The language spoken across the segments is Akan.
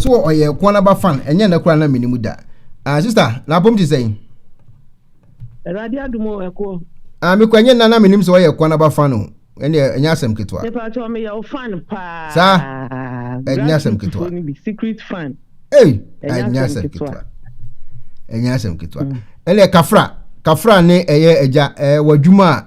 so wɔ ɔyɛ ɛkoa na ba fan ɛnyɛ nɛ kora na mini mu da ah sister na apom ti sɛn. Awurade adum o ɛkoɔ. Ah mi kɔ ɛnyɛ nna na minim sɛ ɔyɛ ɛkoa na ba fan o ɛnɛ ɛnyɛ asɛm ketewa. Nipa kyɛw mi yɛ o fan paa. Saa ɛnyɛ asɛm ketewa. Secret fan. Hey ɛnyɛ asɛm ketewa. Ɛnyɛ asɛm ketewa. Ɛnɛ kafra kafra ne ɛyɛ ɛgya ɛɛ wɔ adwuma a.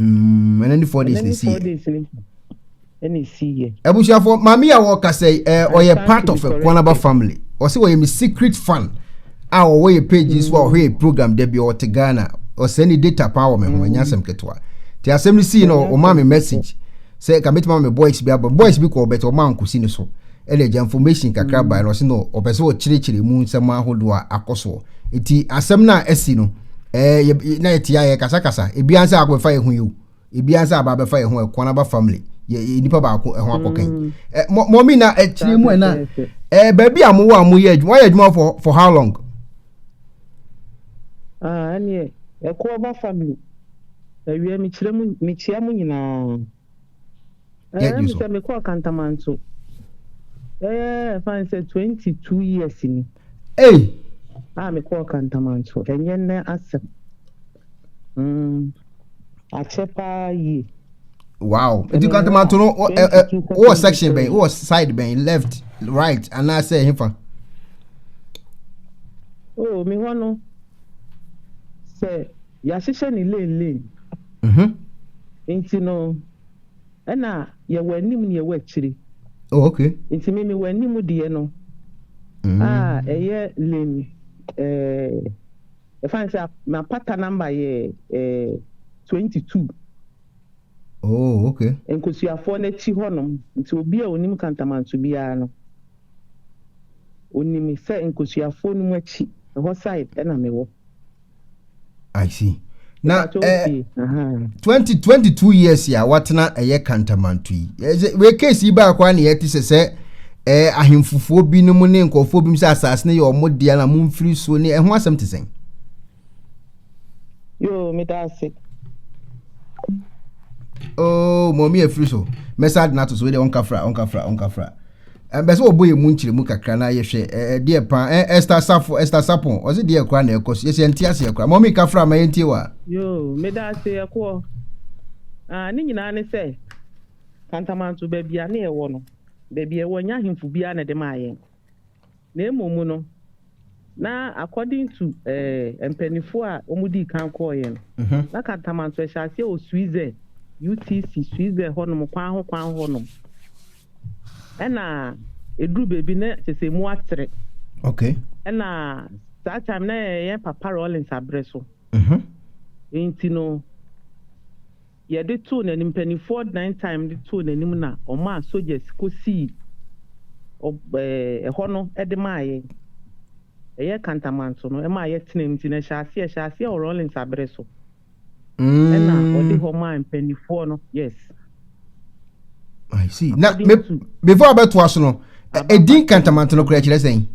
Mm, ɛnɛ ni four days na esi yɛ. Ɛna esi yɛ. Abusuafo maame a wɔka sɛ ɛɛ ɔyɛ part of Ekwanaba family. Ɔsɛ wɔyɛ mi secret fan a ɔwɔ yɛ page nso a ɔhwɛ yɛ program dɛ bi ɔte Ghana. Ɔsɛ ne data paa wɔ me ho ɛnyɛ asɛm ketewa. Te asɛm no sii na ɔma me message sɛ ka betuma me boys bi aba. Boys bi kɔ ɔbɛtɛ ɔma nkosi ne so. ɛna agya information kakra bae no ɔse no ɔpɛ sɛ ɔkyerɛkyerɛ mu nsɛm ahodoɔ a akɔ soɔ nti asɛm no a asi no ɛɛ na yɛte ayɛ kasakasa ebi ansa akɔbɛfa yɛ ho yi o ebi ansa aba abɛfa yɛ ho ɛkɔn aba family yɛ nipa baako ɛho akɔka yi mm. ɛ mɔmi na akyire mu ɛna ɛɛ baabi a mowɔ a moyɛ adwuma wɔyɛ adwuma for for how long. ɛneɛ ah, ɛkɔ aba family awia mekyerɛ mu mekyia mu nyinaa. Ɛɛ mi sɛ mi kɔɔ Kantamanso. Ɛɛ ɛfa n sɛ twenty two years ni. Ee. A mi kɔɔ Kantamanso ɛnyɛ nnɛ asɛm. Mm. Akyɛ paa yie. Wow. Nti Kantamanso no wɔ section bɛn wɔ side bɛn left right anaasɛ ɛhefa. Oh, mi hɔ no sɛ. yɛahyehyɛ no lane lane nti no ɛna yɛwɔ anim na yɛwɔ akyiri oh, okay. nti me mewɔ anim deɛ no mm. a ah, ɛyɛ lane eh, ɛfa ne sɛ mapata number yɛ eh, 22 oh, okay. nkosuafoɔ no akyi hɔnom nti obi a onim kantamanso biara no onim sɛ nkosuafoɔ no mu akyi ɛhɔ side ɛna mewɔ I see. Na eh, twenty twenty two years ya watena ɛyɛ eh, kantamanto yi. Eh, wei case yi baako a na yɛte sɛ sɛ ɛɛ eh, ahemfofoɔ binom ne nkurɔfoɔ binom sɛ asase no yɛ wɔn deɛ na mo mfiri so ne ɛho asɛm te sɛn. Yoo meda ase. Oo oh, mɔmi efiri so mɛsa adi n'ato so wei deɛ ɔnkafra ɔnkafra ɔnkafra. ɛbɛ sɛ wɔbɔ yɛ mu nkyerɛmu kakra na yɛhwɛ ɛdeɛ pa ɛsta safo ɛsta sapon ɔse deɛ kora na ɛkɔ so yɛsɛ ɛnte aseɛ kora mɔmi ka fra ma yɛntie wa yoo meda ase ɛkoɔ ah, ne nyinaa ne sɛ kantamanto baabi a ne ɛwɔ no baabi ɛwɔ nya ahemfo biara na ɛde maa yɛn Na mmom no, na according to eh, mpaninfoɔ a wɔdii kan kɔɔeɛ no, na Kantamanto ɛhyɛ aseɛ wɔ Switzɛ, UTC, Switzɛ hɔ nom, kwan ho kwan hɔ nom. Ɛna ɛduru baabi na kyɛ sɛ mu atere. Okay. Ɛna saa time na ɛyɛ Papa Rawlings aberɛ so. Nti no, yɛde too n'anim, mpanimfoɔ dan time de too n'anim na ɔmaa soldiers kɔsii ɛhɔ no de maa yɛn. Ɛyɛ Kantamanto no ɛmaa yɛtenam nti no ɛhyɛ aseɛ ɛhyɛ aseɛ wɔ Rawlings abere so ɛna ɔde hɔ maa mpanimfoɔ no yes. I see. Na me, before abɛtoa so no, ɛdin kantamanto no kora kyerɛ sɛn?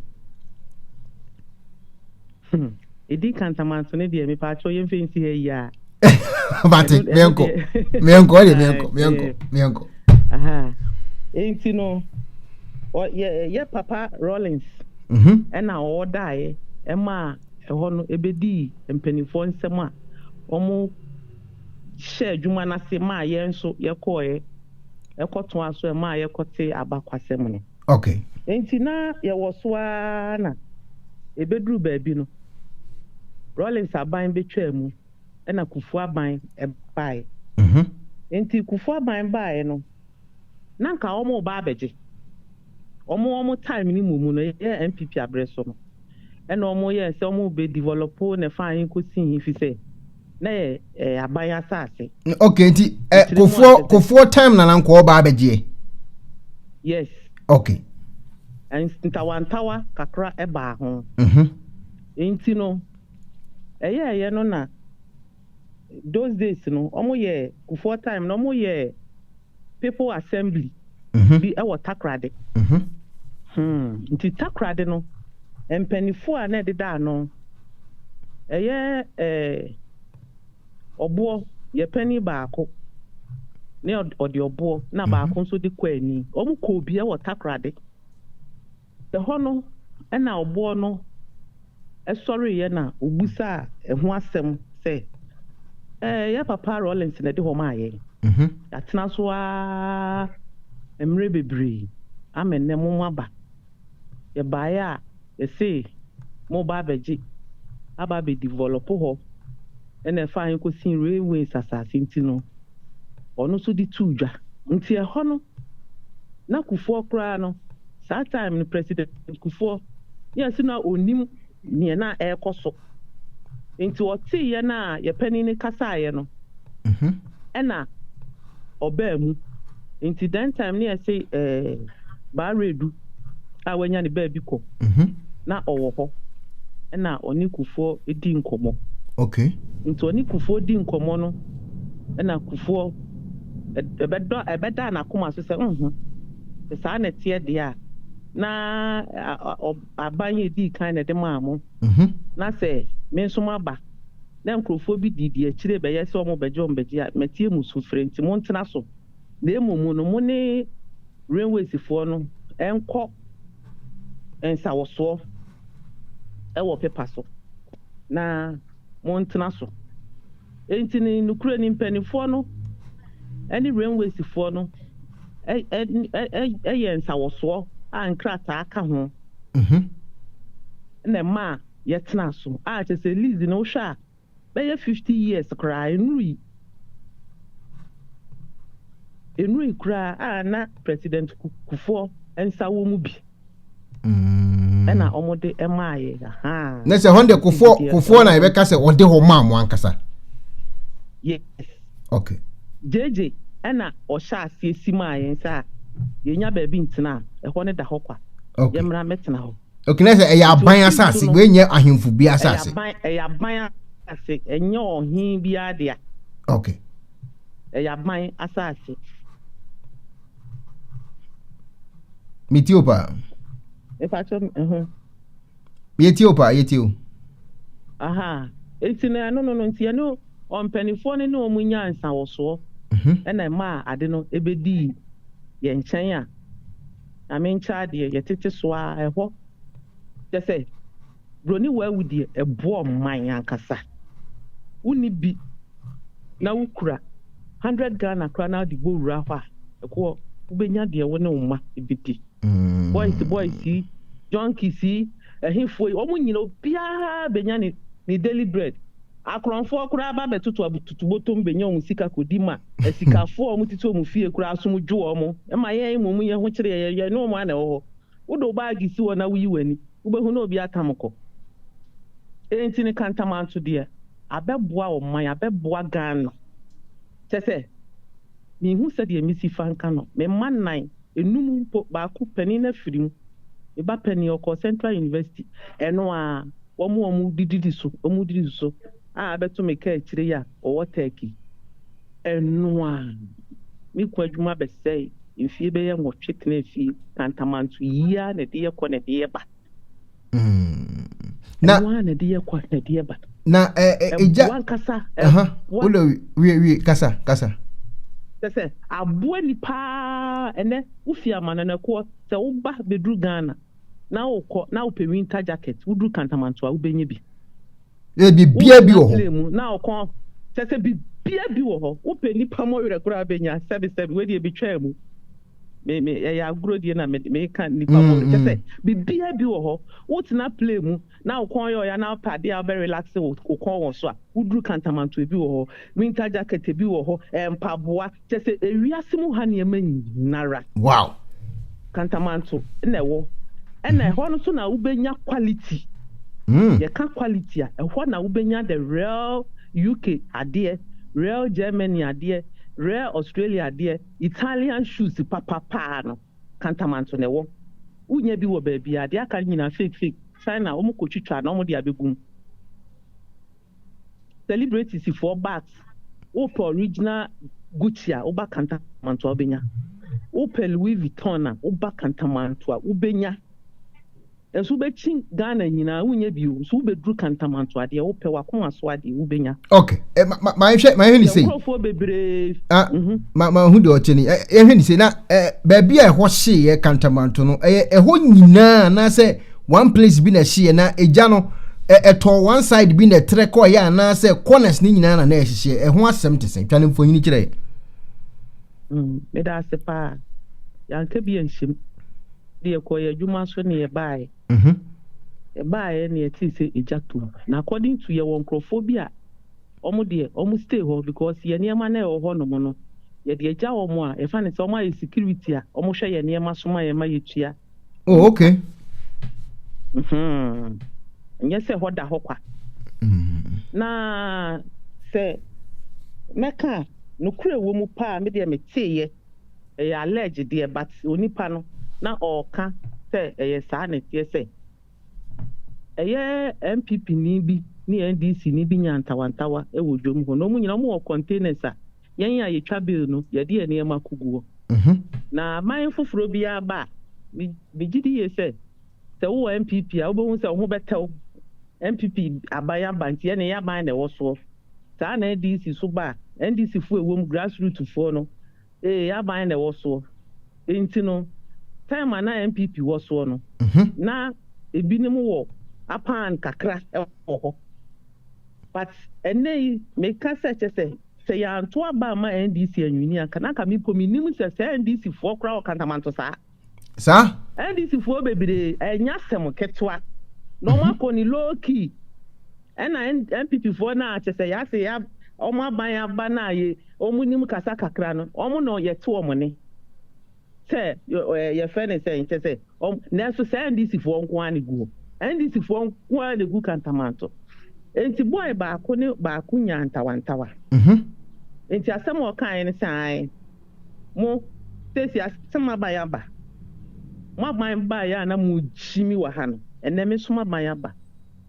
Hmm. Edi kan tamanso ne deɛ mepa akyɛw yɛn fɛ nsi ha yi a. Bate mɛnkɔ mɛnkɔ ɔyɛ mɛnkɔ mɛnkɔ mɛnkɔ. Nti no yɛ yɛ papa Rollins mhm. ɛna ɔwɔ daeɛ ɛma ɛhɔ no ebedi mpanimfoɔ nsɛm a wɔn hyɛ adwuma n'ase maa yɛn nso yɛkɔɛ ɛkɔto aso ɛmaa yɛkɔte abakwasɛm no. Okay. Nti na yɛwɔ so ara na ɛbɛduru baabi no, Rawlings aban bɛtwaa mu na Kufu aban baeɛ. Mhm. Nti Kufu aban baeɛ no, na nka wɔn reba abɛgye. Wɔn wɔn time no mu mu no, yɛ NPP aberɛ so no, ɛna wɔn yɛɛ sɛ wɔn bɛ develop ne fa he kɔsi he, fi sɛ, na yɛ eh, aban asase. okay nti eh, kofoɔ kofoɔ time na nankɔɔ baa bɛgyeɛ. yes. okay. ntawantawa kakra ɛbaa ho. Mm-hmm. nti no ɛyɛ ɛyɛ no na those days no wɔn yɛ kofoɔ time na wɔn yɛ. People Assembly bi wɔ Takoradi. Hmm, nti Takoradi no, mpaninfoɔ a na ɛdeda ano, ɛyɛ eh, Ɔboɔ, yɛ panin baako, ne ɔde ɔboɔ, na baako nso de Kwaani. Wɔn kɔɔ bi wɔ Takoradi. Ɛhɔ no na ɔboɔ no sɔreeɛ na ɔbusaa ɛho asɛm sɛ, Ɛɛ, yɛn papa Rawlings na ɛde hɔ maa yɛn. Mhm. Yɛatena so ara mmerɛ bebree ama nnɛ moaba. Yɛbaeɛ a, yɛsee moreba abɛgye, aba abɛdevelɔpo hɔ na ɛfaa yɛn kɔsii Railways asase nti no, ɔno nso de too dwa. Nti ɛhɔ no na Kufuor koraa no saa time no President Kufuor ne ɛse na ɔnim neɛ na ɛrekɔ so nti ɔtee yɛn a yɛpanin no kasaeɛ no ɛna ɔbaa mu nti then time ne ɛse ɛɛ Baa Redu a wanya ne baabi kɔ na ɔwɔ hɔ ɛna ɔne Kufuor di nkɔmmɔ okay nti ɔne Kufuor di nkɔmmɔ no ɛna Kufuor Ɛbɛdɔ, ɛbɛdaa n'akoma so sɛ, Nhu, sɛ saa na ɛteɛ deɛ a, na aban yi a ɛdii kan na ɛde maa mo, na sɛ me nso maba, na nkurɔfoɔ bi di deɛ akyire rebɛyɛ sɛ wɔrebɛgye wɔn bɛgye a, mɛtie mo sufrɛ. Enti montena so, na mmom no, mo ne Runawaysfoɔ no nkɔ nsawɔsoɔ wɔ pepa so, na montena so. Enti no nokorɛ ni mpaninfoɔ no ne Rainways foɔ no yɛɛ nsawɔsoɔ a nkrataa ka ho na ɛmaa yɛtenaa so a kyerɛ sɛ lease no wohwɛ a bɛyɛ fifty years koraa ɛnurui ɛnurui koraa a na President Kufuor nsa wɔ mu bi. ɛna wɔn de ɛmaa yɛ ahaa. na sɛ hɔn de kofoɔ kofoɔ na yɛbɛka sɛ ɔde hɔ maa mo ankasa. yes. okay. gyegye ɛna ɔhyɛ aseɛ si maa yɛn sɛ a yɛnya baabi ntena a ɛhɔ ne da hɔ kwa. okay yɛmmra mɛtena hɔ. okay na sɛ ɛyɛ aban asase wei nyɛ ahemfo bi asase. ɛyɛ aban ɛyɛ aban asase ɛnyɛ ɔhen biara dea. okay ɛyɛ aban asase. meti o paa. mepakyɛ ɛho. yɛti o paa yɛti o. aha nti na ɛno no no nti ɛno ɔmpanifoɔ no ne wɔn nya nsawɔsoɔ mhm. ɛna ɛma a ade no ɛbɛdi yɛn nkyɛn a nyame nkyɛ adeɛ yɛtete so a ɛhɔ kyɛ sɛ Broni waa wu deɛ ɛboɔ mman ankasa. Wonni bi na wokura hundred Ghana koraa na wode bɔ wura hɔ a, ɛkoɔ wobɛnya deɛ wo ne wo mma bɛdi. Boys boys yi, junkies yi, ɛhefoɔ yi, wɔn nyina obiara bɛnya ne ne daily bread. Akorɔmfoɔ koraa ba bɛtoto atutubotom bɛnya wɔn sika kɔdi ma asikafoɔ a wɔtete wɔn fie koraa asom dwo wɔn. Ɛma yɛn mmom yɛn ho kyere yɛn, yɛne wɔn ara na ɛwɔ hɔ. Wode wo baage si hɔ na wuyi w'ani, wubehu na obi atam kɔ. Eyi nti no, kantamanto deɛ, abɛboa ɔman, abɛboa Ghana. Kyerɛ sɛ, minhu sɛdeɛ mesi fa nka no. Me mma nnan, nnum mpo, baako, panin no afiri mu. Me ba panin, ɔkɔɔ Central University. Ɛno ara, wɔn a wɔdidi so, wɔdidi so a abɛto me kaakyire yi a. ɔwɔ Turkey. Ɛno a, ne kunu adwuma bɛsɛe. Mfeɛ bɛyɛ nwɔtwe tenaa fie, kantamanto yi ara na ɛde yɛ kɔ na ɛde yɛ ba. Mm. Ɛno ara na ɛde yɛ kɔ na ɛde yɛ ba. Na ɛgya. Ɛboa nkasa. Ɛboa. Wodɔ wie wie kasa kasa. Sɛ sɛ aboa nipa ɛnɛ wofi amananakoɔ sɛ woba bɛduru Ghana na wokɔ na wopɛ winter jacket woduru kantamanto a wobɛnya bi. Ɛ bibia bi wɔ hɔ. Na ɔkɔ kyɛ sɛ bibia bi wɔ hɔ. Wopɛ nipa mɔ werɛ koraa bɛnya sɛbi sɛbi wei deɛ betwaa mu. Me me ɛyɛ agorɔ die na me me ka nipa mɔ werɛ kyɛ sɛ bibia bi wɔ hɔ. Wotena play mu na wo kɔn yɛ ɔya na wopɛ adeɛ a wobɛ relax wo kɔn wɔ so a woduru kantamantoe bi wɔ hɔ, winter jacket bi wɔ hɔ, mpaboa. Kyɛ sɛ ewiase mu ha nneɛma nyinara. Wow. Kantamanto na ɛwɔ. Ɛna ɛhɔ no nso na wobɛnya quality. Yɛka quality a, ɛhɔ na wobɛnya the real UK adeɛ, real Germany adeɛ, real Australia adeɛ, Italian shoes papa paa no, Kantamanto na ɛwɔ. Wonya bi wɔ baabiara. Deɛ aka no nyinaa fake fake. China, wɔkɔtwitwa na wɔde abɛgu mu. celebrities foɔ but wopɛ original Gucci a woba kantamantoa wobɛnya wopɛ Louis Vuitton a woba kantamantoa wobɛnya nso wobɛkyi Ghana nyinaa wonyɛ bio nso wobɛduru kantamantoa deɛ wopɛ wakoma so adeɛ wobɛnya ok eh, mahwɛ mahwɛ ne sei nkurɔfoɔ bebree ah, mhm. mahu deɛ ɔkyɛ ni ɛhwɛ ne sei na eh, baabi a ɛhɔ hyeeɛ kantamanto no ɛyɛ ɛhɔ nyinaa anaasɛ One place bi na ɛhyeɛ na egya no ɛ ɛtɔ one side bi na ɛtrɛ kɔɔeɛ anaasɛ corners no nyinaa na na ɛhyehyeɛ. Ɛho asɛm te sɛn? Twa no mfonini kyerɛ yɛn. Mm, meda ase paa. Yɛanka bi anhyem. De yɛkɔɔ yɛn adwuma so ne yɛbaeɛ. Mhm. Yɛbaeɛ ne yɛtee sɛ egya tom. Na according to yɛwɔ nkurɔfoɔ bi a wɔn deɛ wɔn stay hɔ because yɛn nneɛma no a ɛwɔ hɔnom no, yɛde agya wɔn a yɛfa no sɛ wɔayɛ security a wɔhwɛ yɛn nneɛma so ma yɛn ma yɛtua oh okay hmm. nyɛ sɛ hɔ da hɔ kwa hmm. na sɛ mɛka nokorɛ wɔ mu paa me deɛ meteeɛ ɛyɛ alleged deɛ but onipa no na ɔɔka sɛ ɛyɛ saa na ɛteɛ sɛ Ɛyɛ NPP ni bi ne NDC ni bi nyaa ntawantawa wɔ dwom hɔ na wɔn nyinaa wɔn wɔ containers a yɛn a yɛtwa bill no yɛde yɛn nneɛma ko guɔ. Na man foforɔ biara ba a me gye di yie sɛ sɛ wo wɔ NPP a wobɛhu sɛ wo ho bɛtɛw. NPP aban aba nti ɛne yɛ aban na ɛwɔ soɔ. Saa na NDC so ba a NDC foɔ ɛwɔ mu grassroot foɔ no ee yɛ aban na ɛwɔ soɔ. Enti no, term a na NPP wɔ soɔ no, na ebinom wɔ apan kakra wɔ hɔ. But ɛnnɛ yi, meka sɛ kyɛ sɛ, sɛ yɛanto aba amma NDC anwini anka, na anka me mpo mennim sɛ saa NDC foɔ koraa wɔ kantamanto saa. Saa? NDC foɔ bebree, ɛnyɛ asɛm ketewa. Na wɔn akɔ ne low key. Ɛna NPP foɔ no a kyɛsɛ yɛase yɛ ɔmo aban aba no a yɛ ɔmo nim kasa kakra no ɔmo na yɛte ɔmo nne sɛ ɛɛ yɛfrɛ no sɛn kyɛsɛ ɔmo nanso saa NDC foɔ nko ara na egu hɔ NDC foɔ nko ara na egu kantamanto nti boy baako ne baako nyaa ntawantawa mhm. nti asɛm a ɔkaeɛ no sɛ ae mo sɛsi asɛm aban aba mo aban baeɛ a na mo gyimi wɔ ha no ɛnɛ me nso mo aban aba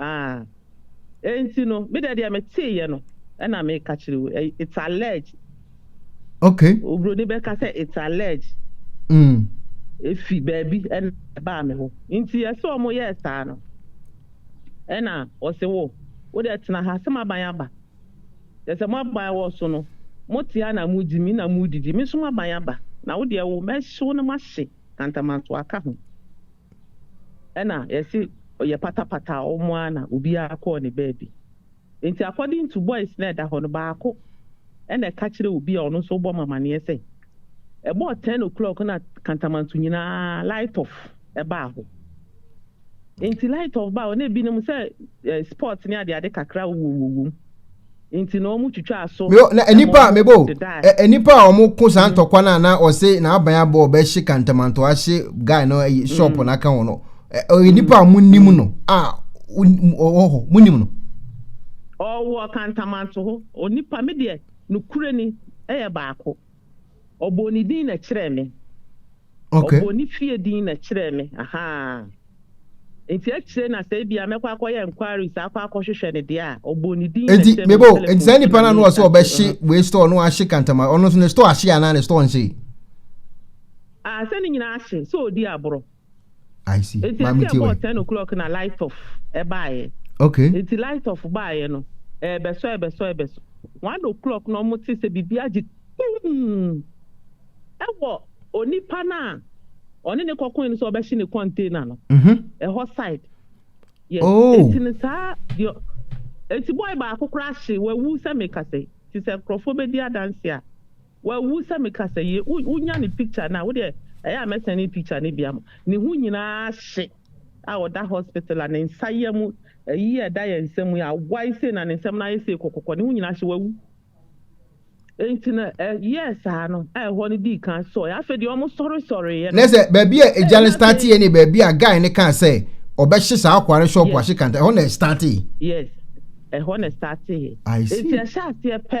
Ah, enti no, me dɛ deɛ metee yɛ no, ɛna meka kyerɛ wo, it's alleged. Okay. Obroni bɛka sɛ it's alleged. Mm. Efi baabi ɛna ɛbaa me hɔ. Nti ɛsɛ ɔmo yɛ saa no. Ɛna ɔse wo, wo dɛ tena ha, sɛ maban aba. Ɛsɛ mo aban wɔ so no, mo te ha na mo di, me na mo didi, me nso maban aba. Na wo deɛ wo, mɛhye wo na mahye kantamantoa aka ho. ɛna yɛse ɔyɛ patapata a wɔn ara na obiara kɔɔ ne baabi. Nti according to boys no a ɛda hɔ no baako ɛna ɛka kyerɛɛ obi a ɔno nso rebɔ me amaneɛ sɛ ɛbɔɔ ten o'clock na Kantamanto nyinaa light off ɛbaa hɔ. Nti light off baa hɔ na ebinom sɛ eh, sports ne adeade kakra wowɔ wɔ wom. Nti na wɔn twitwaa so. Mebo na nipa mebo ɛ nipa a wɔn ko saa ntɔkwa na na ɔse na aban abɔ ɔbɛ hye kantamanto ahye guy no ayi shop na aka wɔn no ɛ nipa a wɔn nim no a ɔwɔ hɔ wɔn nim no. Ɔwɔ kantamanto hɔ onipa mi deɛ no kure ni ɛyɛ baako. Ɔbɔɔ ne din na ɛkyerɛɛ me. Okay. Ɔbɔɔ ne fie din na ɛkyerɛɛ me. Aha. Nti akyire na sɛ ebia mɛkɔ akɔyɛ inquiries akɔ akɔhwehwɛ ne deɛ a ɔbɔɔ ne din na ɛkyerɛɛ me. Eti mebo nti saa nipa na no ɔsɛ ɔbɛhye wei store no ahye kantama ɔno nso ne store ahye anaa ne store nhye. Ah sɛ ne nyinaa ahye sɛ ɔdi aborɔ. I see. Nti Maame ɛsɛ ɛbɔ ten o'clock na light off ɛbaayɛ. Okay. Nti light off baayɛ no ɛbɛsɔ ɛbɛsɔ ɛbɛsɔ one o'clock na ɔmo te sɛ bibi agye tum ɛwɔ onipa no a ɔne ne kɔkɔn no sɛ ɔbɛhye ne container no ɛhɔ side. Yes. Oh. Nti no saa deɛ nti boy baako koraa hye wawu sɛ mekasa yi. Nti sɛ nkorɔfoɔ bɛdi adanse a Wawu sɛ me kasa yi wo wo nya ne picture no a wo deɛ ɛyɛ a mɛ sɛne picture no bi ama ne ho nyinaa hye a ɔda hospital a ne nsa yɛ mu ayi a ɛda yɛn nsam yi awae sei na ne nsam no ayɛ sei kɔkɔkɔ ne ho nyinaa hye wawu enti na ɛ yɛɛ saa no a ɛhɔ no dii kan sɔe afei deɛ ɔmo sɔre sɔreeɛ no. Ne sɛ baabi a egya no starteɛ ne baabi a guy ne kaa sɛ ɔbɛhye saa akwa no shop ahye kanta ɛhɔ na ɛstarteɛ. Yes ɛhɔ na ɛstarteɛ enti ɛhyɛ aseɛ pɛ.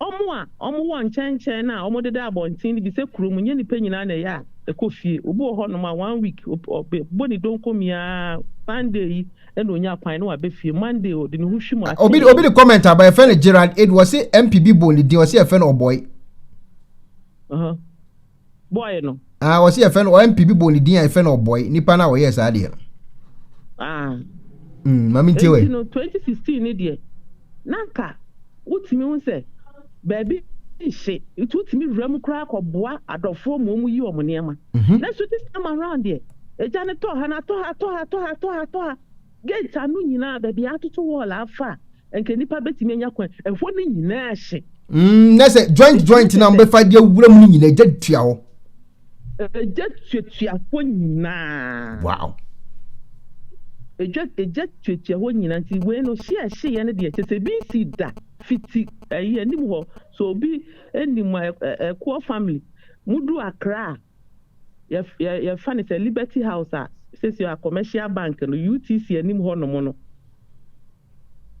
Wɔn a wɔwɔ nkyɛnkyɛn a wɔdeda abɔnten no bi sɛ kurom nyɛ nnipa nyinaa na ɛyɛ a ɛkɔ fie. Obi wɔ hɔnom a one week ɔbɛbɔ ne donko miaa, Sunday yi na ɔnya kwan na waba fie, Monday ɔde ne ho hwim ase. Obi obi de comment aba yɛfrɛ no Gerald Edu ɔse MP bi bɔ ne din ɔse yɛfrɛ no Ɔbɔe. Uh-huh. boy no. Ah, wɔsi yɛfɛ no ɔmp bi bɔ ne din a yɛfɛ no ɔbɔe nipa no a ɔyɛɛ saa deɛ no. Ah. Mm, maame ntie wɛ. Eti no 2016 ne deɛ na nka wotumi ho sɛ baabi nhye nti wotumi wura mu koraa kɔboa adɔfoɔ ma wɔn yi wɔn nneɛma. Mm -hmm. Nanso this time around deɛ egya no tɔ ha na atɔ ha atɔ ha atɔ ha atɔ ha atɔ ha. Gate ano nyinaa, baabi a atoto wall afa a nka nipa betumi anya kwan, ɛhɔ no nyinaa hye. Mm, na sɛ joint joint na wɔbɛfa de awura mu no nyinaa, egya tua hɔ. Egya tuatua hɔ nyinaa. Wow. Egya egya tuatua hɔ nyinaa nti wei no hye a ɛhyeeɛ no deɛ kyɛ sɛ ebi nsi da fiti ɛyi anim hɔ so obi anim a ɛkoɔ family mudu akra a. yɛfa no sɛ Liberty House a sɛsi a Commercial Bank no, UTC anim hɔnom no.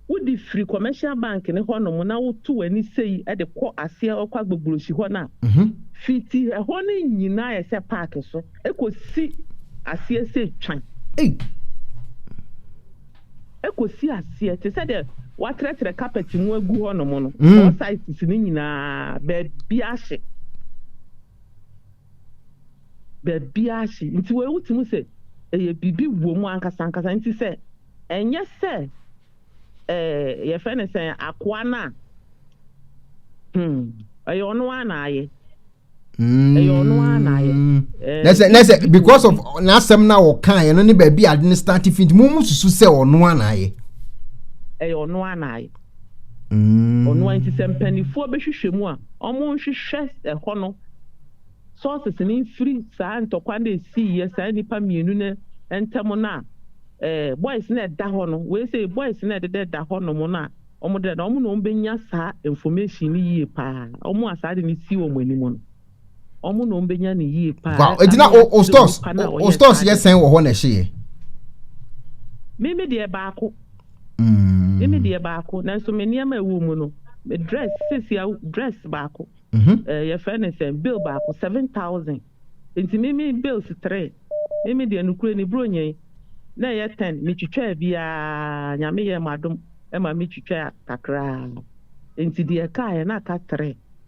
Wode firi Commercial Bank no hɔnom na woto w'ani sei de kɔ aseɛ kɔ Agbogblosi hɔ no a, mhm. fiti ɛhɔ no nyinaa yɛ sɛ paake so ɛkɔsi aseɛ sɛ twan. Ɛkɔsi aseɛ te sɛ deɛ watrɛtrɛ carpet mu agu hɔnom no, mm. all sizes no nyinaa baabi ahye. baabiara hye. Nti wei wote mu sɛ ɛyɛ biribi wɔ mu ankasa ankasa. Nti sɛ ɛnyɛ sɛ ɛɛ yɛfrɛ no sɛn akoa no a, hmm, ɛyɛ ɔno ara na ayɛ. Mm. ɛyɛ ɔno ara na ayɛ. Ɛɛ, na sɛ na sɛ biribi wɔ because mu. of n'asɛm na wɔka yɛn no ne baabi a ade no start fi nti mo mo susu sɛ ɔno ara na ayɛ. ɛyɛ ɔno ara na ayɛ. Ɔno ara nti sɛ mpaninfoɔ bɛhwehwɛ mu a, wɔnhwehwɛ ɛhɔ no sources no mfiri saa ntɔkwa no a ɛsiiɛ saa nnipa mmienu no ntam no a boys no a ɛda hɔ no, wei sɛ boys no a ɛdeda ɛda hɔ nom no a wɔdeda no, wɔn na wɔbɛnya saa information no yie paa, wɔn a saa ade no si wɔn anim no. Ɔmo na ɔmo bɛnya no yie paa. Wow, eti na o stores o stores yɛ sɛn wɔ hɔ na ɛhye yɛ? Mimi deɛ baako. Mm. Mimi deɛ baako. Nanso me nneɛma ɛwɔ mu no, me dress sisi a dress baako. Mm -hmm. uh, eh, yɛfrɛ ne sɛ bill baako seven thousand. Nti mimi bills three. Mimi deɛ nukure ne buro nyɛn na ɛyɛ ten. Metwitwaa biara nyame yɛ ma adom ɛma metwitwaa kakraa. Nti deɛ ɛkaeɛ na aka three.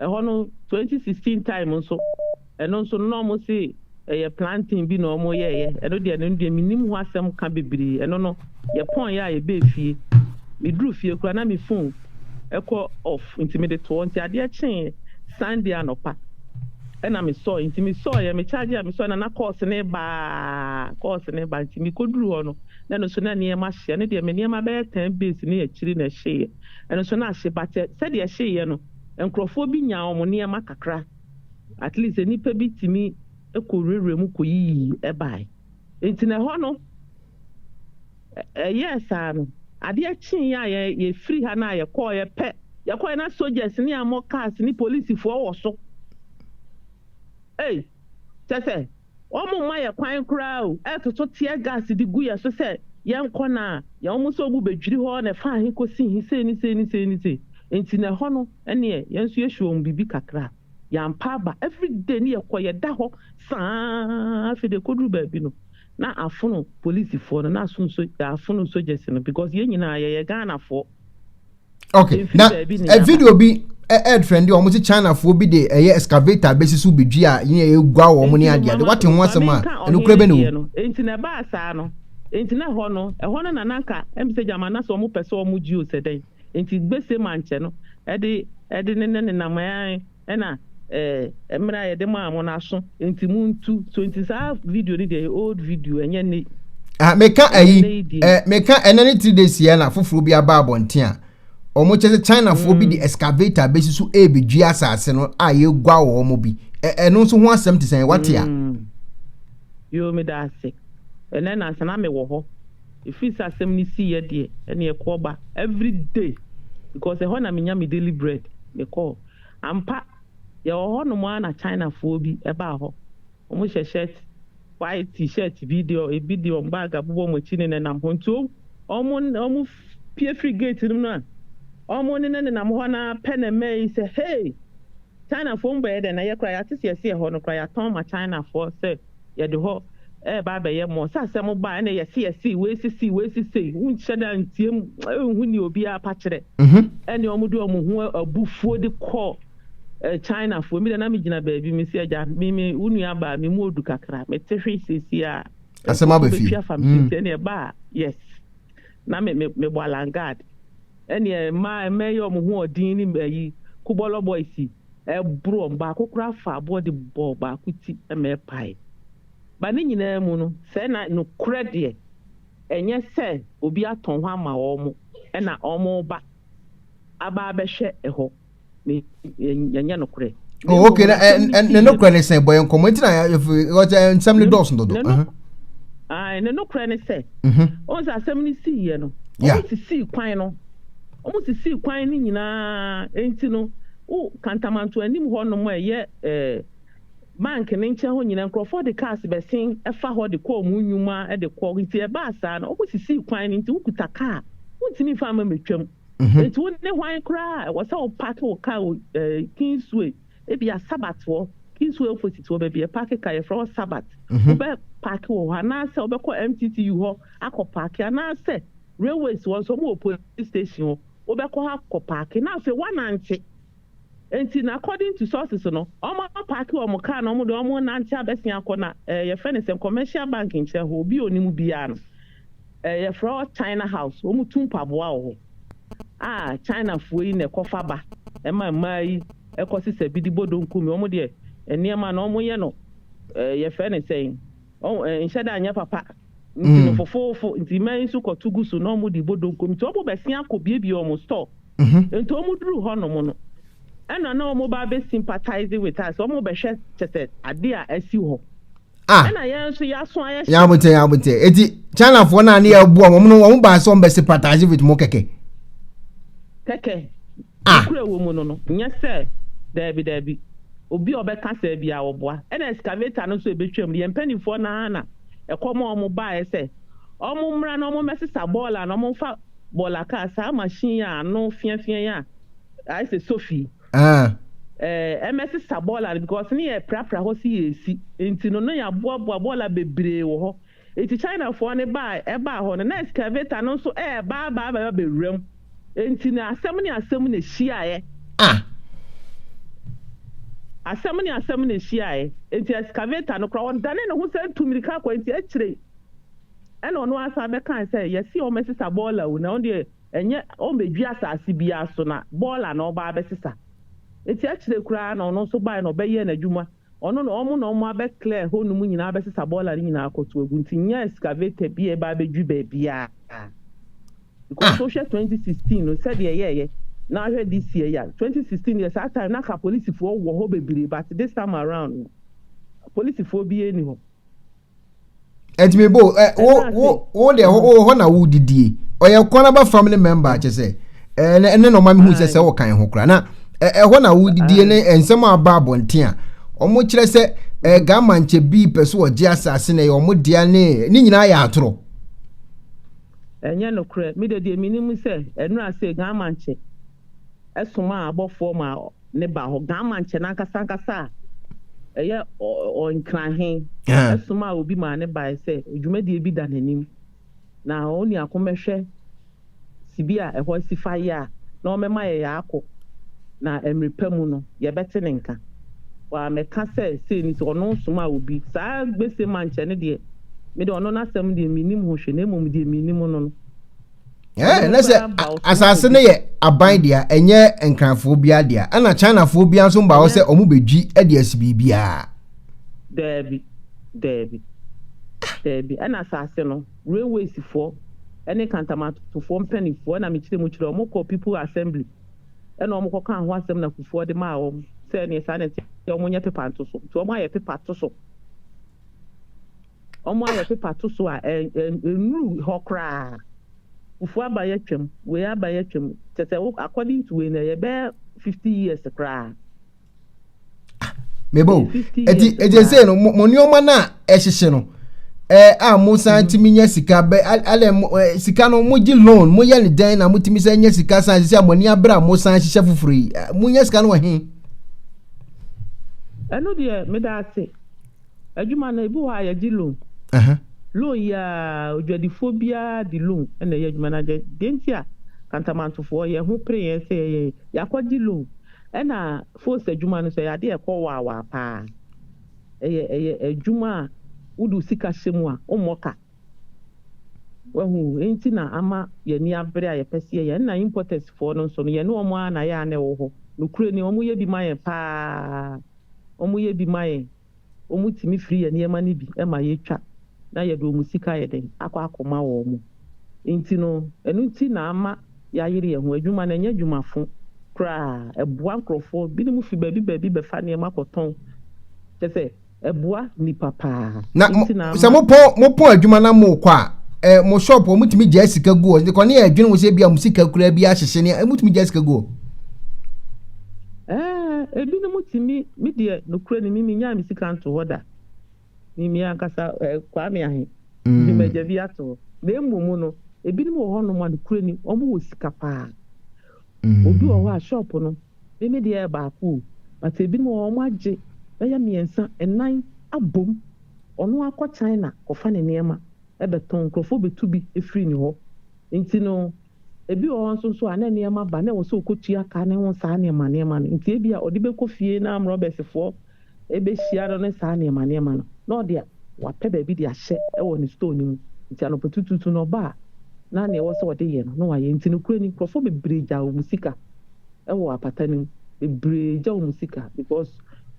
Ɛhɔ no twenty sixteen time nso ɛno nso no na ɔmo se ɛyɛ planting bi na ɔmo yɛɛyɛ ɛno deɛ ɛno deɛ menim ho asɛm ka bebree ɛno no yɛ pɔn yɛ a yɛbɛɛ fie me duru fie kura na me phone ɛkɔ off nti mede toɔ nti adeɛ kyee Sunday anɔpa ɛna me sɔɔ nti me sɔɔ yɛ me charge a me sɔɔ na na course ne baa course ne ba nti me kɔ duru hɔ no na ɛno nso na nneɛma hye ɛno deɛ me nneɛma bɛyɛ ten base ne akyiri na ɛhyeeɛ ɛno nso na ahye but sɛdeɛ ɛhyeeɛ no Nkurɔfoɔ bi nyaa wɔn nneɛma kakra, at least nnipa bi tumi kɔwurawuraa mu kɔyiyii baeɛ. Nti na ɛhɔ no, ɛyɛɛ saa no, adeɛ kyeeɛ a yɛn, yɛfiri ha no a yɛkɔeɛ pɛ, yɛkɔeɛ na soldiers ne yɛammɔ cars ne polisifoɔ wɔ so. Ei! Kyerɛ sɛ. Wɔmma yɛn kwan koraa o, ɛtoto tear gas de gu yɛn so sɛ yɛnkɔ no a, yɛn wɔn sɛ wɔbu bɛdwiri hɔ na ɛfa he kɔsi he, sei ne sei ne sei ne sei. Nti na ɛhɔ no ɛneɛ yɛn nso yɛhye wɔn biribi kakra. Yɛampa aba, everyday no yɛkɔ, yɛda hɔ saa ara, afei deɛ ɛkɔduru baabi no na afono polisifoɔ no na aso nso, yɛafono sogyɛse no because yɛn nyinaa yɛyɛ Ghanafoɔ. okay na eh, video bi ɛɛd eh, friend wɔn ti chinafoɔ bi de ɛyɛ excavator bɛsi so bi dwi a yɛn yɛ egua wɔn ne adeɛ adeɛ wate ho asɛm a ɛno kura bɛ ne wo. nti na ɛbaa saa no nti na ɛhɔ no ɛhɔ no na nanka ɛmu sɛ gyama na sɛ wɔn pɛ sɛ wɔn gyi o sɛ dɛn nti gbese mankyɛ no ɛde ɛde ne ne nenam ɛɛ. ɛna eh mmere a yɛde maa mo no aso nti mo ntu so nti saa video no deɛ old video ɛnyɛ ne ah meka ayi eh meka ɛna ne three days yɛ na foforɔ bi aba abɔnten a wɔn kyɛ sɛ chinafoɔ bi de mm. excavator bɛsi so ɛrebɛdwi asase no a yɛgua wɔ wɔn bi ɛno nso ho asɛm te sɛn wate a mm. yoo meda ase ɛnɛ nansa na mewɔ hɔ ɛfiri sɛ asɛm no si yɛ deɛ ɛne ɛkɔba every day because ɛhɔ na menya me daily bread mekɔɔ Ampa, yɛwɔ hɔnom ara na Chinafoɔ bi baa hɔ. Wɔhyɛ shirt, white T-shirt bi deɛ ebi de wɔn bag abobɔ wɔn akyi nenenam hɔ. Nti wɔn pue firi gate no mu no a, wɔn nenenenam hɔ no ara pɛ na mmaa yi sɛ, Hey! Chinafoɔ mu bɛyɛ dɛn? Na yɛ koraa yɛate sɛ yɛse yɛhɔ no koraa yɛatɔn ma Chinafoɔ sɛ yɛde hɔ ɛɛba abɛyɛ mɔ sɛ asɛm baa ɛna yɛse yɛse wei sesei wei sesei wonhyɛ da ntie mu ɛnhu nea obiara pa kyerɛ ɛne ɔmo de ɔmo ho abufuo de kɔ China foɔ mi de na me gyina baabi me se agya me me wo nua baa me mu odu kakra me te hwe sesi a asɛm aba fie afa me sesi ɛne ɛbaa yes na me me me bɔ alangard ɛne ɛma ɛma yɛ ɔmo ho ɔdin ne ayi kubɔlɔ boys ɛboro wɔn, baako koraa faa aboɔ de bɔɔ baako ti ma ɛpae. Ba ne nyinaa mu no, sɛɛ na nokorɛ deɛ, ɛnyɛ sɛ obi atɔn hɔ ama wɔn, ɛna wɔreba aba abɛhwɛ ɛhɔ, na ɛnyɛ nokorɛ. Na oh, okay, na, ɛn, ɛn, ne nokorɛ ne sɛ, bɔ yɛn nkɔmmɔ, nti na, yɛfiri, nsɛm ne dɔɔso dodo. Ne nokorɛ. Ne nokorɛ ne sɛ, ɔhu sɛ asɛm no siiɛ no, wɔsisii kwan no. Wɔsisii kwan no nyinaa, enti no, wo Kantamanto anim hɔ nom a ɛyɛ eh, bank no nkyɛn hɔ nyinaa, nkurɔfoɔ de cars bɛsen fa hɔ de kɔ wɔn nnwuma de kɔ. Enti ɛbaa saa no, wɔsisii kwan no nti, wokuta car a, wontumi mfa mma mmɛtwam. Enti wo ne hwan koraa a ɛwɔ sɛ wo park wo car wɔ eh, Kingsway, ebia Sabbath hɔ, Kingsway opposite hɔ baabi yɛpaake car, yɛfrɛ hɔ Sabbath, wobɛ park wɔ hɔ anaasɛ wobɛkɔ MTTU hɔ akɔ park anaasɛ, railways hɔ nso wɔwɔ police station hɔ, wobɛkɔ hɔ akɔ paake na afei woanante. Nti na according to sources no, wɔapaake wɔn car na wɔde wɔn renante abɛsen akɔ na eh, yɛfrɛ no sɛ commercial bank nkyerɛ hɔ, obi a onim biara no, eh, yɛfrɛ hɔ China House, wɔtu mpaboa wɔ hɔ a Chinafoɔ yi na ɛkɔfa ba ɛma mmaa yi ɛkɔsesa bi de bɔ donko mi, wɔn deɛ nneɛma no wɔyɛ no eh, yɛfrɛ no sɛn. Ɔn eh, nhyɛ da nyɛ papa. Nti no mm. fofoofo, nti mmaa yi nso kɔto gu so na wɔn de bɔ donkom. Nti wɔn bɛsi akɔ biebie wɔn store. Mhm. Nti wɔn duru hɔ nom no, ɛna na wɔn ba bɛ sympathize with us, wɔn bɛhwɛ kyɛ sɛ ade a asi hɔ. Ah. Ɛna yɛn nso yɛaso ayɛ hyɛ. Yabotɛ yabotɛ. Eti Chinafoɔ naa ne yɛ bu wɔn no wɔn baa sɛ wɔn bɛ sympathize with mo kɛkɛ. Kɛkɛ. a. Nokura wɔ mu no no nyɛ sɛ daabi daabi obi a ɔbɛka saa biara ɔboa ɛna excavator no nso ɛbɛtwa mu yɛn mpaninfoɔ no ara na ɛkɔm a wɔn baeɛ sɛ wɔn mmra na wɔn mmɛsesa bɔɔla no wɔn mfa bɔɔla kaa saa machine yi a ano fea fea yi a ayɛ sɛ sofi yi ɛɛ ɛmmɛsesa bɔɔla no because ne yɛ ɛprapra hɔ sɛ yɛresi nti no na yɛaboaboa bɔɔla bebree wɔ hɔ Enti Chinafoɔ no baa a ɛbaa hɔ no, na excavator no nso reba aba aba abɛwura mu. Enti na asɛm ne asɛm na ɛhyiaeɛ. Ah! Asɛm ne asɛm na ɛhyiaeɛ. Enti excavator no koraa, ɔdane ne ho sɛ atu mmirika akɔ. Enti akyire yi, ɛna ɔno ara san bɛkae sɛ, Yɛse wɔmmɛsesa bɔɔla o, na ɛno deɛ, ɛnyɛ wɔmmɛdwi asase biara so, na bɔɔla na wɔba abɛsesa. Enti akyire koraa na ɔno nso baeɛ na ɔbɛyɛɛ n'adwuma. Ɔno na ɔmo na ɔmo abɛ clear hɔ nom nyinaa abɛsesa bɔɔla no nyinaa akɔto agu nti nnya excavator bi a ɛba abɛdwiri baabiaa because Ah! wohwɛ twenty sixteen no sɛdeɛ ɛyɛɛyɛ na ahwɛ this year yi a twenty sixteen deɛ saa time no anka polisifoɔ wɔ hɔ bebree but this time around no polisifoɔ biaa nni hɔ. ɛnti mebo ɛ eh, wo wo wo deɛ wo hɔ na wo didie ɔyɛ kɔn aba family member akyɛ sɛ ɛɛ ne ne na ɔma mi hu sɛ sɛ wɔ kan ho kora na ɛhɔ eh, na wo didie ne nsɛm a aba abɔnten a wɔn kyerɛ sɛ ɛɛ gama nkyɛ bi pɛ so ɔgye asaase na ɛyɛ wɔn dea ne ne nyinaa yɛ atorɔ. ɛnyɛ nokorɛ mi de deɛ mi ni mu sɛ ɛnu ase gama nkyɛ somaa abɔfoɔ maa ne ba hɔ, Gaamankyɛ no ankasa ankasa a ɛyɛ Ɔnkra he somaa obi maa no baeɛ sɛ dwumadie bi da n'anim, na oniako mmɛhwɛ sibi a ɛhɔ asi fa yɛ a, na ɔmmɛma yɛ yɛakɔ, na mmerɛ pa mu no yɛbɛte ne nka. Wammɛka sɛ sei ne sei, ɔno somaa obi. Saa Gbesemankyɛ no deɛ, me deɛ ɔno n'asɛm deɛ mennim ho hwee, na mmom deɛ menim no no. Eh, na sɛ asase no yɛ aban deɛ a ɛnyɛ nkranfoɔ biara deɛ a ɛna chinafoɔ biara nso mba hɔ sɛ wɔn bɛdwi de asi biribiara. daabi daabi daabi ɛna asase no railwaysfoɔ ɛne kantamatofoɔ mpanimfoɔ ɛna mekyerɛ mu kyerɛ wɔn kɔ people assembly ɛna wɔn kɔka ho asɛm na kufuɔ de maa wɔn sɛ ɛneɛ saa na ɛte wɔn nyɛ pepa nto so nti wɔn ayɛ pepa to so. Wɔayɛ pepa to so a ɛnnuru hɔ koraa. Fufuo aba yi atwam, wei aba yi atwam. Kyerɛ sɛ wo according to wei no ɛyɛ bɛyɛ fifty years koraa. Ah, mebo eti eti ese no mo nneɛma no a ɛhyehye no ɛɛ a mo san mm-hmm. tumi nya sika bɛ alɛ mo ɛɛ sika no mo gye loan mo yɛ ne dɛn na mo tumi sɛ nya sika san sisi a mo ani abere a mo san hyehyɛ foforɔ yi mo nya sika no wɔ he. ɛno deɛ meda ase. Adwuma no ebi wɔ hɔ a yɛgye loan. Loan yi ara odwadifoɔ biara de loan na ɛyɛ adwuma no. Deɛ nti a Kantamantofoɔ yɛn ho pere yɛn sɛ yɛyɛ yɛakɔgye loan. Ɛna Fos adwuma no nso ɛyɛ adeɛ a ɛkɔ waawaa pa ara. Ɛyɛ ɛyɛ adwuma a wode wo sika hyɛ mu a wommɔ ka. Wahu? Enti na ama yɛn ani abere a yɛpɛ sɛ yɛyɛ. Ɛna importersfoɔ no nso no yɛne wɔn ara na yɛ a na ɛwɔ hɔ. Nokorɛ ni wɔyɛ bi ma yɛn pa ara. wɔyɛ bi ma yɛn, wɔtumi firi yɛn nneɛma no bi ma yɛtwa na yɛde wɔn sika ayɛ dɛn, akɔ akɔma wɔn. Enti no, ɛno nti na ama yɛayere yɛn ho. Adwuma no, ɛnyɛ adwuma fo koraa. Ɛboa nkurɔfoɔ. Binom fi baabi baabi bɛfa nneɛma kɔtɔn. Kyɛ sɛ, ɛboa nnipa paa. Na mo, sɛ mopɔn, mopɔn adwuma na mokɔ a, ɛ, mo shop, wɔtumi gyaa sika gu hɔ. Nti kɔ ne yɛ adwene ho sɛ bi a mo sika kura bi ahyehye ne, wɔtumi gyaa sika gu hɔ. Ɛɛ, ebinom te me, me deɛ nokorɛ ni, me mennyaa me sika nto hɔ da. Me, me ankasa, eh, Kwame Ahe, de m'agya bi ato hɔ. Na mmom no, ebinom wɔ hɔnom a nokorɛ ni, wɔwɔ sika paa. Obi wɔ hɔ a, shop no, me, me deɛ yɛ baako o, but ebinom wɔ hɔ a, wɔagye bɛyɛ mmiɛnsa, nnan abom. Ɔno ara kɔ China kɔfa ne nneɛma bɛtɔn, nkurɔfoɔ bɛtu bi firi ne hɔ. Nti no, Ebi wɔ hɔ nso nso a na nneɛma ba na ɛwɔ sɛ okotua ka ne ho saa nneɛma nneɛma no nti ebia ɔde bɛkɔ fie na amrɔbɛsfoɔ bɛhyia no ne saa nneɛma nneɛma no na ɔde wapɛ baabi de ahyɛ wɔ ne store no mu nti anɔpatutuutu na ɔba a na nea ɛwɔ sɛ ɔde yɛ no na wayɛ nti nokorɛ ni nkorɔfoɔ bebree gyaa wɔn sika wɔ apata no mu bebree gya wɔn sika because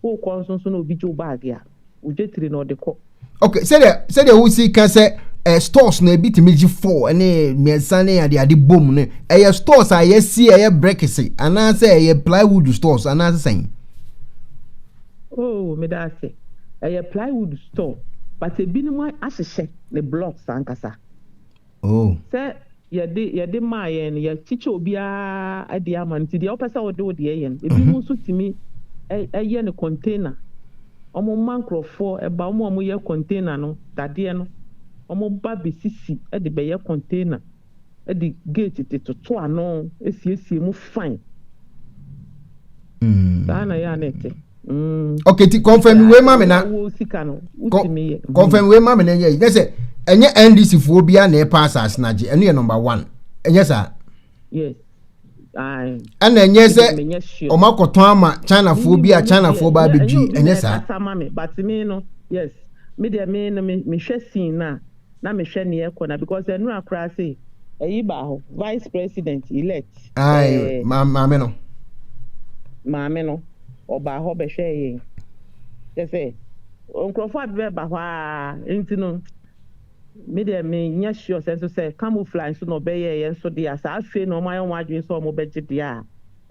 wokɔ nso nso na obi gye wo baage a wogye tiri na ɔde kɔ. ok sɛdeɛ sɛdeɛ wosi ka sɛ eh, stores na ebi tumi gye four ne mmiɛnsa ne ade ade bom no ɛyɛ stores a yɛsi ɛyɛ bricks anaasɛ ɛyɛ plywood stores anaasɛ sɛn. oh meda ase ɛyɛ plywood store but ebinom ahyehyɛ ne blocks ankasa. Oh. Sɛ yɛde, yɛde maa yɛn no, yɛkyekyɛ obiara deɛ ama no, nti deɛ wopɛ sɛ wode wo deɛ yɛ no. Ebinom mm-hmm. nso tumi ɛyɛ no container. Wɔn mma nkorɔfoɔ ɛba, wɔn a wɔyɛ container no, dadeɛ no, wɔn ba bɛsisi de bɛyɛ container, de gate de toto ano, esiesie mu fine. Mm. Saa na yɛ a na ɛte. Mm. okay ti confirm wei ma me na confirm wei ma me na ɛnyɛ yi sɛ ɛnyɛ ndc foɔ bia na ɛpa asase na agye ɛno yɛ number one ɛnyɛ saa ɛna ɛnyɛ sɛ ɔmo akɔtɔn ama china foɔ bi a china foɔ ba abɛdwi ɛnyɛ saa. na me hwɛ neɛ ɛkɔ na because ɛnora koraa se ɛyi baa hɔ vice president elect ɛɛ maame no maame no ɔbaa hɔ bɛhwɛɛ yɛn kyɛ sɛ nkurɔfoɔ a bɛba hɔ a nti no me deɛ me nyɛ sure sɛ nso sɛ camouflage nso na ɔbɛyɛ yɛn nso deɛ saa afei na wɔn ayɛ wɔn adwene sɛ wɔn bɛgye deɛ a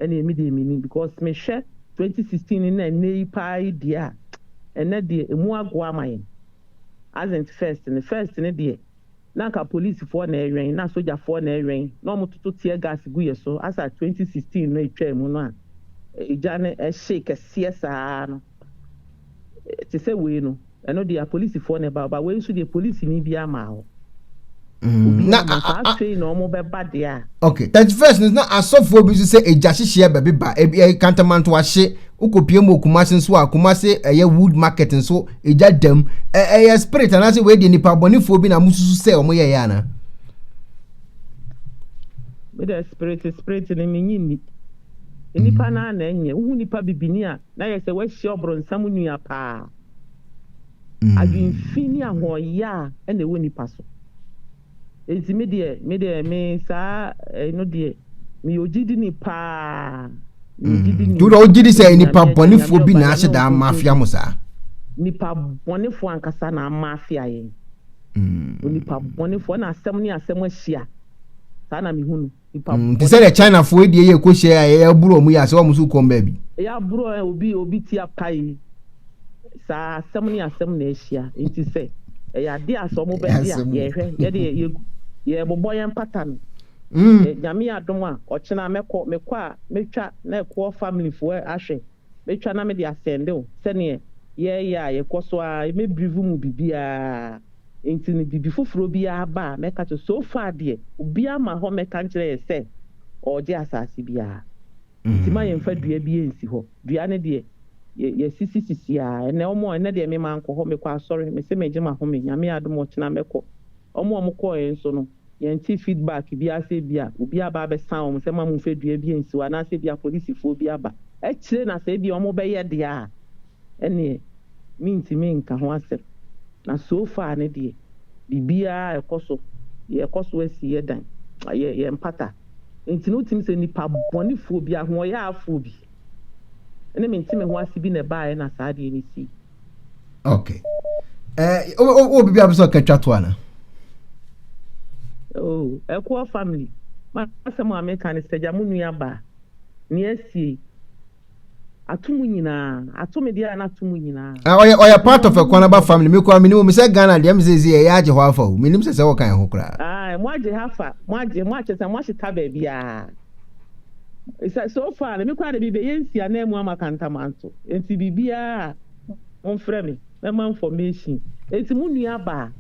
ɛna emi deɛ mini because me hwɛ 2016 ne na ɛnɛ yi paa yi deɛ a ɛnɛ deɛ emu agoa ama yɛn. as in first no first no deɛ na anka polisifoɔ na ɛwɛn na sogyafoɔ na ɛwɛn na wɔn toto tear gas gu yɛ so asa twenty sixteen no ɛtwaa mu no a egya no ɛhyee kɛseɛ saa no te sɛ wei no ɛno deɛ apolisifoɔ na ɛba ɔba wei nso deɛ polisini biara maa hɔ. Mm, na afei na wɔn bɛba deɛ a. okay thirty first no na asɔfoɔ bi nso sɛ egya hyehyeɛ bɛbi ba ebi ɛyɛ kantamanto ahye wokɔpie mu okumase nso a kumase ɛyɛ wood market nso egya dam ɛyɛ spirit anaasɛ wei deɛ nipa abɔnefoɔ bi na mo susu sɛ wɔn yɛ yɛ ana. mi dɛ spirit spirit ni mi nyi ni nipa mm. naa na ɛnyɛ wohu nipa bibini a na yɛ sɛ wahyia ɔbronsam nua paa. Adwenfi ne ahoɔyaa na ɛwɔ nipa so. Enti me deɛ, me deɛ, me saa ɛno deɛ, meyɛ ogyidini paa. Meyɛ ogyidini. Wodɔ wogye di sɛ nipa bɔnefoɔ bi na ahyɛ daa mafia mo saa? Nipa bɔnefoɔ ankasa na amafia yɛn. Onipa bɔnefoɔ, ɛna asɛm ne asɛm ahyia. Saa na mehu no. Mm, te sɛ deɛ chinafoɔ die yɛ kɔhyɛ a ɛyɛ aburo ɔmo yɛ asɛ ɔmo so kɔm baabi ɛyɛ aburo ɛ obi obi ti apae saa asɛm ne asɛm na ahyia nti sɛ ɛyɛ ade a sɛ ɔmo bɛgye a yɛhwɛ yɛde yɛgu yɛbobɔ yɛn mpata no mm. nyame adom a ɔkyena mɛkɔ mekɔ a mɛtwa na ɛkoɔ family foɔ ahwɛ Mɛtwa na mede asɛnde wo sɛdeɛ yɛreyɛ a yɛkɔ so ara, mɛbirivu mo biribiara, enti no biribi foforɔ biara ba a, mɛka kyerɛ, so far deɛ, obiara ma hɔ mmɛka nkyerɛ yɛn sɛ ɔregye asase biara, enti ma yɛmfa dua biara nsi hɔ, dua no deɛ, yɛ, yɛasisisisi ara, ɛnnɛ wɔn, ɛnnɛ deɛ me mankɔ hɔ, mekɔ asɔre, mese megye m'ahome, Nyame adom ɔkyena mɛkɔ, wɔn a wɔkɔeɛ nso no, yɛnte feedback biara sɛ ebia obi aba abɛsan wɔn sɛ ma momfa dua bi nsi hɔ anaasɛ ebia polisifoɔ bi aba akyire na sɛ ebia wɔbɛyɛ deɛ a ɛnneɛ mentumi nka ho asɛm. Na so far no deɛ biribiara a ɛkɔ so yɛkɔ so asi yɛn dan, yɛmpata. Enti no wotumi sɛ nipa bɔnefoɔ bi, ahoɔyaafoɔ bi ne mente me ho ase bi na ɛbaeɛ na saa adeɛ no sii. okay ɛɛ o o o bibi a bɛ sɛ ɔkɛtwa to ana. oh ɛkoɔ family ma asɛm a meka ne sɛ gya mo nua ba ne asie ato mu nyinaa ato me deɛ a na ato mu nyinaa. Ah, ɔyɛ ɔyɛ part of ɛkwan aba family mi kura mi ni mo mi sɛ ghana deɛ mi sɛ ezi ɛyɛ agye hɔ afa o mi nim sɛ sɛ ɔka yɛn ho koraa. Ah, mo agye ha fa mo agye mo akyɛ sɛ mo ahyeta baabi a. sɛ so far no me koraa de mebɛyɛ nsi ananmu ama kantamanto nti biribiara a momfrɛ me mɛma information nti mo nuaba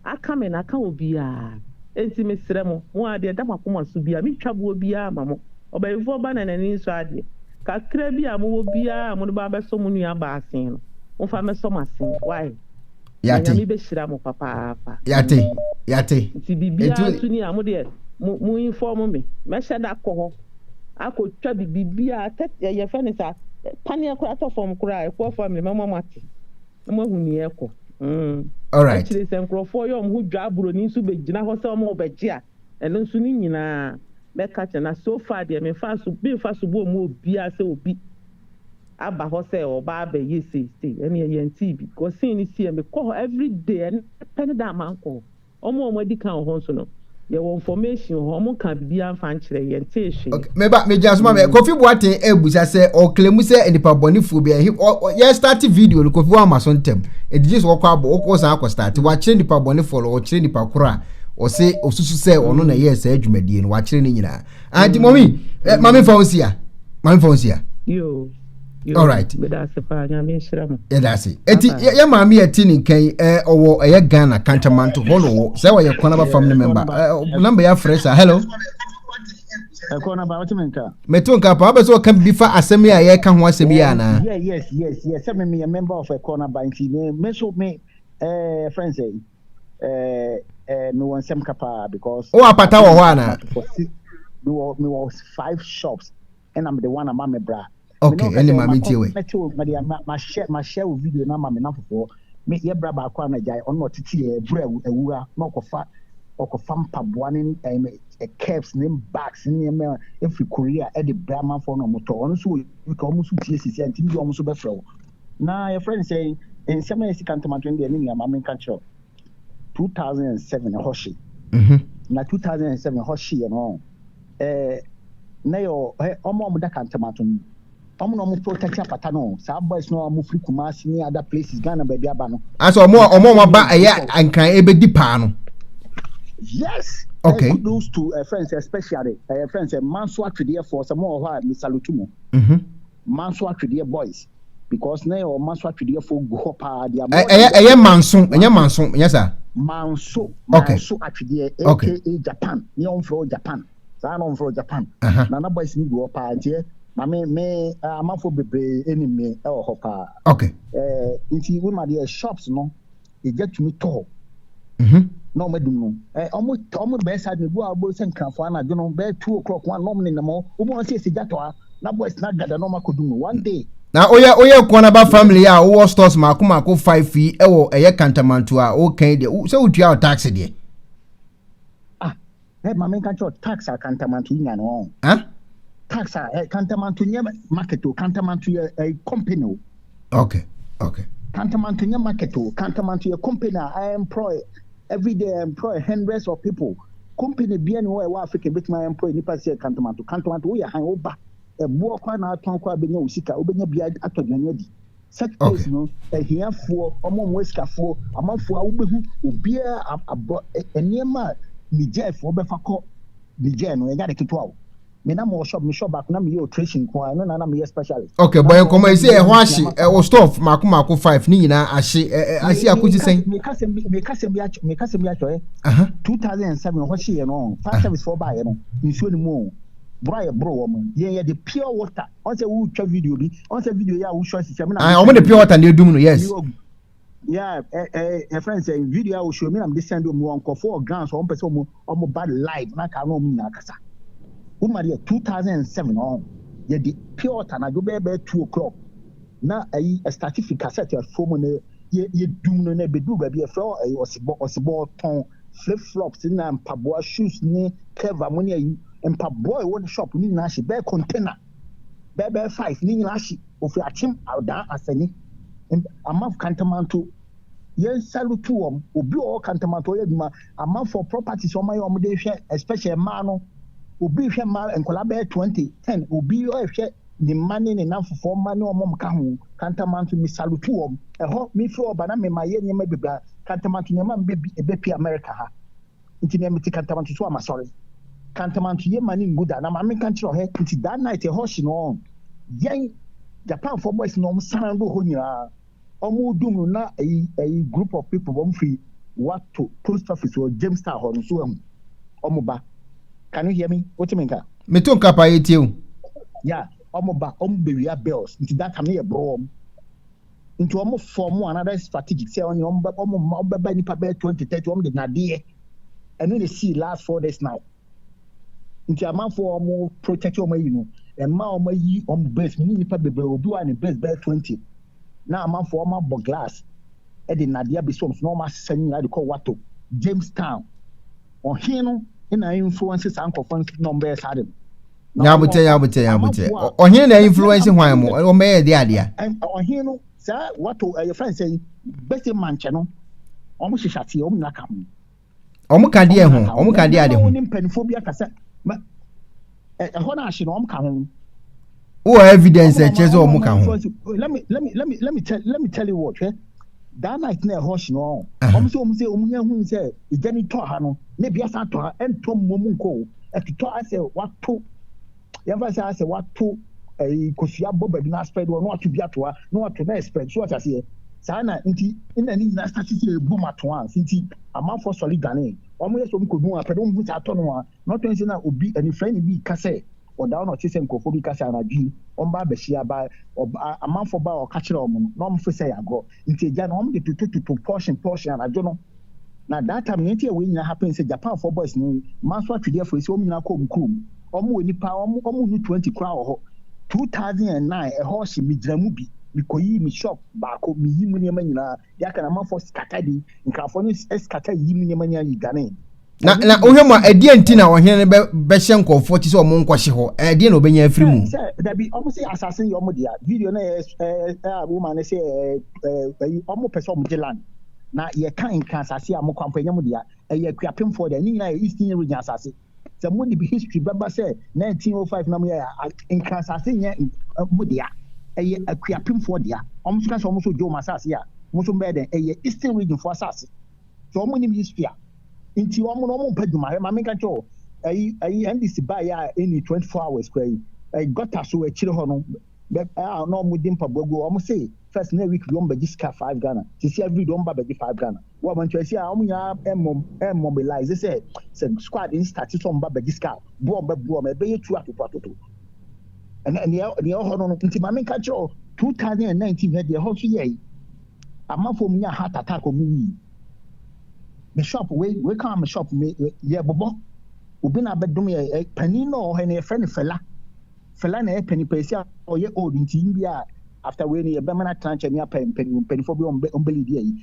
a aka me na aka obiara nti mesrɛ mo mo a deɛ ɛda mo akoma so biara metwa boɔ biara ma mo ɔbɛyifoɔ ba na n'ani nsɔ adeɛ kakra bi a mowɔ biara a mode ba abɛsɔ mo nuaba asen no momfa mmɛsɔ m'asen why na nyame bɛhyira mo papaapa yate yate nti biribiara nso ni a mo deɛ mo mo inform me mɛhyɛ da kɔ hɔ akɔtwa bi biribiara tɛ ɛyɛ fɛ ne saa paneɛ koraa tɔ fam koraa ɛfoɔ family mɛma mo ate na mo ahu nea ɛkɔ mm akyire sɛ nkurɔfoɔ yɛ wɔn ho dwa aburoni nso bɛgyina hɔ sɛ wɔn bɛgye a ɛno nso ne nyinaa mɛka kyɛ na so far deɛ memfa so memfa so bɔ mu obiara sɛ obi aba hɔ sɛ ɔba abɛyɛ sei sei ɛneɛ yɛntee bi kɔ scene no sii mekɔ hɔ everyday ɛnɛ pɛ ne da a mankɔ hɔ ɔmo a ɔmo adi kan wɔ hɔ nso no yɛwɔ information wɔ hɔ ɔmo nkaa biribiara mfa nkyerɛ yɛntee hwee. Okay, meba megyina so ma me mm. Kofi Boateng abusa sɛ ɔklemu sɛ nipa bɔnefoɔ bi ɛhe yɛ start video no Kofi wama so ntɛm ɛdi gye sɛ ɔkɔ abɔ ɔkɔ san akɔ start mm. wakyerɛ nipa bɔnefoɔ no ɔkyerɛ nipa korɔ a ɔse ɔsusu sɛ ɔno na ɛyɛɛ saa adwumadie no wakyerɛ ne nyinaa anti mɔmi ɛ maame nfa wɔn si a maame nfa wɔn si a. yoo yoo alright medase paa nyame nhyira mu. yɛdase eti yɛ maame yɛ ti ne nkan yi ɛ ɔwɔ ɛyɛ ghana kantamanto hɔ na ɔwɔ sɛ ɔyɛ kɔnaba fam ne mɛmba ɛ namba yɛ afrɛ sa hello. ɛkɔ na ba ɔte mi nka. mɛte wo nka paa wobɛ sɛ ɔka bibi fa asɛm yi a yɛka ho asɛm yi anaa. yes yes yes sɛ me meyɛ member of ɛkɔ na ba nti me so me ɛɛ fɛn sɛ. ɛɛ ɛɛ mewɔ nsɛm ka paa because. wowɔ apata wɔ hɔ anaa. mewɔ mewɔ five shops ɛna mede one ama me bra. okay ɛne maame tie wɛ. mɛte o mɛde ma ma hyɛ ma hyɛ o video na ma me nafofoɔ me yɛ bra baako a na gyae ɔno na ɔtete yɛ ɛbura awura na ɔkɔfa ɔkɔfa mpaboa ne ɛɛ eh, caps ne bags ne nneɛma efiri korea ɛde bra amanfoɔ na ɔmo tɔ ɔno nso wɔ uk ɔmo nso tie sisi a ntumi bi ɔmo nso bɛfrɛ wo. Na yɛfrɛ no sɛn? Nsɛm a ɛyɛ sika ntɛm adwene deɛ me nua ma menka nkyerɛ wo. 2007 ɛhɔ hye. Na 2007 ɛhɔ hyeɛ no ɛɛ na yɛ ɛ ɔmo a ɔmo da kantɛm ato no ɔmo na ɔmo fo tɛkyɛ apata no saa boys no a ɔmo firi Kumasi ne other places Ghana baabi aba no. Asɛ ɔmo a ɔmo a ɔmo aba ɛyɛ nkran ebedi paa no. Yes. Okay. And kudos to uh, friends, especially uh, friends, uh, Manso Atwedeɛ for some more who are Mr. Lutumo. Mm-hmm. Manso atwedeɛ boys because na yɛwɔ manso atwedeɛ fo gu hɔ paa deɛ amɔ. Ɛyɛ ɛyɛ manso ɛnyɛ manso ɛnyɛ saa. Manso manso atwedeɛ aka Japan ne yɛn fɛ wɔ Japan saa na wɔn fɛ wɔ Japan na na boys ni gu hɔ paa ntiɛ na me me amanfo bebree ɛnim me ɛwɔ hɔ paa. Okay. Ɛɛ nti wo ma deɛ shops no. egya tumi tɔ hɔ na wɔn adum no wɔn wɔn bɛyɛ saa de gu a wɔbɔ sɛ nkranfoɔ anadwo no bɛyɛ two o'clock wɔn a na wɔn nenam hɔ wɔn wɔn sɛ egya tɔ ha na boys na gada na wɔn akɔ dum no one day. na oyɛ oyɛ nkoa na ba family a wowɔ stores mako mako five fee ɛwɔ ɛyɛ kantamanto a wokan deɛ sɛ wotua tax deɛ. Ah, eh, maame nka kyerɛ tax a kantamanto nya no ɔn. Eh? Tax a eh, kantamanto nyɛ market o, kantamanto yɛ eh, company o. Okay, okay. Kantamanto nyɛ market o, kantamanto yɛ company a I employ every day I employ hundreds of people. Company bia ni hɔ a ɛwɔ Africa betumi I employ nipa sɛ kantamanto. Kantamanto woyɛ han woba ɛboɔ kora na atɔn kora bɛnya wo sika wobɛnya bia atɔ aduane adi. Sectors no, ahiafoɔ, wɔn a wɔyɛ asikafoɔ, amanfoɔ a wobɛhu obiara ab- abɔ ɛ- nneɛma a Nigerfoɔ bɛfa kɔ Niger no, ɛnyɛ ade ketewa o. Me na mewɔ shop, me shop baako na meyɛ operation nko ara, ɛno na na meyɛ specialist. okay Na bɔ mewɔ nkɔmmɔ yi sɛ ɛhɔ ahye nneɛma ɛwɔ store mako mako five ne nyinaa ahye ɛ- ɛ- ahye akosi sɛn mekasɛm bi mekasɛm bi akyɛ mekasɛm bi akyɛ Aha. 2007 hɔ hyeeɛ no ɔho fire service foɔ baeɛ no nsuo no mu o boro a yɛboro wɔ mo yɛn yɛde pure water ɔn sɛ wotwa video bi ɔn sɛ video yɛ a wohwɛ ɔsi sɛ mi na. Ah, wɔn de pure water na edum no yes. Yeah, ɛ ɛ yɛ fɛn sɛ video a wohwɛ mi na mi de send wɔn wɔn nkɔfo wɔ Ghana so wɔn pɛ sɛ wɔn wɔn ba live na kaa na wɔn nyinaa kasa. Wɔn ma deɛ two thousand and seven ɔn yɛ de pure water na adwo bɛyɛ bɛyɛ two o'clock na ayi ɛstati fi cassette ɛfo mu na yɛ yɛ dum no na ebeduru baabi ɛfrɛ ɔyɛ ɔsibɔ ɔsibɔ tɔn. flip flops na mpaboa shoes ne cover mo ne ayi mpaboa ɛwɔ ne shop ne nyinaa hye bɛɛ container bɛɛ bɛɛ five ne nyinaa hye ofi akyem adan asani amaf kantamanto yɛn salutu wɔm obi ɔwɔ kantamanto ɔyɛ adwuma amanfoɔ properties ɔma yɛ ɔmo de hwɛ especially mmaa no obi hwɛ mmaa nkɔla bɛɛ twenty ten obi ɔhwɛ ne mma ne ne nnamfofoɔ mma ne wɔn a wɔka ho, Kantamanto, mesalutu wɔn. Ɛhɔ, mefiri hɔ ba na mema yɛ nneɛma bebree a Kantamanto nneɛma mma bi ɛbɛpue Amerika ha. Nti neɛ mete Kantamanto so a masɔre. Kantamanto yɛ mma ne ngu da na maame nka nkyerɛ ɔhɛ. Nti that night ɛhɔ hye no ɔn. Yɛn Japanfoɔ boys na wɔn san do hɔ nyinaa. ɔmo dum no na ɛyi ɛyi group of people wɔn fi wato post office wɔ james town hɔ no so ɛho ɔmo ba can you hear me wote me nka. me to nka paa yɛ tie o. ya ɔmo ba ɔmo bɛ wia bills nti that time ne yɛ borɔ wɔn nti ɔmo fɔ ɔmo another strategic sɛ ɔne ɔmo bɛ ɔmo ma ɔmo bɛ ba nipa bɛyɛ twenty thirty ɔmo de nadeɛ ɛno na esi last four days now. Nti amanfoɔ a wɔn protect wɔn ayi no, mmaa wɔn ayi wɔn breast mu ne nipa bebree obi wa ne breast bɛyɛ twenty na amanfoɔ wɔn abɔ glass ɛde nnadeɛ abɛsi wɔn so na wɔn asesa ne nyinaa de kɔ wato Jamestown ɔhen no na influence saa nkɔfɔ no na wɔn bɛyɛ saa de no. Nyabotɛ nyabotɛ nyabotɛ ɔhen na influence hwan mu wɔn bɛyɛ de adeɛ. Ɔhen no saa wato ɛyɛ fɛn sɛ bɛsi mankyɛ no wɔn hyehyɛ aseɛ wɔn nyinaa ka ho. Wɔn ka deɛ ho? Wɔn ka deɛ ade ho? Ne mpanimfoɔ bi akasa ma ɛhɔ no ahye na wɔn ka ho. Wɔ evidence ɛkyɛ sɛ wɔn ka ho. Let me let me let me let me tell let me tell you what. That night na ɛhɔ hye no wɔn. Wɔn sɛ wɔn sɛ wɔn yɛn hu sɛ egya ni tɔ ha no na ebi asan tɔ ha ɛntɔ mmom nkɔ o ɛtotɔ asɛ wato. yɛmfa sɛ asɛ wato ɛyi eh, kosua bɔ baabi na aspread wɔ na wato bi ato ha na wato na spread so ɔte aseɛ saa na nti nna ne nyinaa start sɛ ɛbɔ mu ato a nti amanfoɔ sɔre dwane wɔn yɛ sɛ wɔn kɔdu apɛ na wɔn hu saa atɔ no a na ɔtɔ nsɛ na obi anifrɛ ne bi ka sɛ ɔda hɔ na ɔte sɛ nkurɔfoɔ bi ka sɛ anadwo yi wɔn ba abɛhyia ba amanfoɔ ba a ɔka kyerɛ wɔn no na wɔn fo sɛ yɛ agorɔ nti agya no wɔn de totototo portion portion anadwo no Na that time nea nti a wei nyinaa happen sɛ Japan foɔ boys no ma so atwedeɛ foɔ yi sɛ wɔn nyinaa kɔ wɔn kurom. Wɔn wɔ nipa wɔn wɔn nnu twenty koraa wɔ hɔ. Two thousand and nine ɛhɔ hye me gyina mu bi me kɔ yi me shop baako me yi mu nneɛma nyinaa deɛ aka no amanfoɔ scatter bi nkrafoɔ no scatter yi mu nneɛma nyinaa yi dwanee. na na wohwɛ mu a ɛdeɛ nti na ɔhene no bɛhyɛ nkurɔfoɔ ti sɛ ɔmo nkɔhye hɔ ɛdeɛ na ɔbɛnya afiri mu sɛ dabi ɔmo sɛ asase yɛ ɔmo dea video no yɛ a woma no sɛ ɔmo pɛ sɛ ɔmo gye land na yɛka nka asase a mo kwampɔ ɛnyɛ mo dea ɛyɛ akuapemfoɔ dea ne nyinaa yɛ eastern region asase sɛ mo de history bɛba sɛ 1905 na mo yɛ nka asase nyɛ mo dea ɛyɛ akuapemfoɔ dea ɔmo so ka sɛ ɔmo so gye ɔmo asase a mo so mbɛyɛ dɛn ɛyɛ eastern regionfoɔ asase sɛ ɔmo nim history a Nti wɔn no wɔn mpɛ adwuma. Hwɛ maame nka nkyɛn o. Ɛyi ɛyi NDC baa yɛ a ɛni twenty four hours kura yi. Ɛyi gɔta so akyire hɔ no bɛ a na wɔn di mpaboa gu wɔn se first na week bi wɔn bɛgye sika five Ghana. Sisi every day wɔn ba bɛgye five Ghana. Wɔ amantuasi a wɔn nyinaa ɛmɔ ɛmmobilize sɛ sɛ squad no start sɛ wɔn ba bɛgye sika bo wɔn bɛ bo wɔn ɛbɛyɛ tu atoto atoto. Ɛnɛ nea nea ɛwɔ hɔ no no nti maame nka nkyerɛ o two thousand and nineteen hwɛ deɛ ɛhɔ nso yɛɛyi. Amafo mu nya heart attack ɔmo wui. Me shop wei wei kaa me shop me yɛ bobɔ obi na abɛdom yɛ eh, panin na ɔwɔ hɛ na yɛfrɛ no Fela Fela na yɛ panin pɛsi a ɔyɛ old nti yi bi a after wei no yɛbɛma no atena nkyɛn ne apɛ mpanin mpanimfoɔ bi ɔmo bɛ ɔmo bɛ lead yɛ yi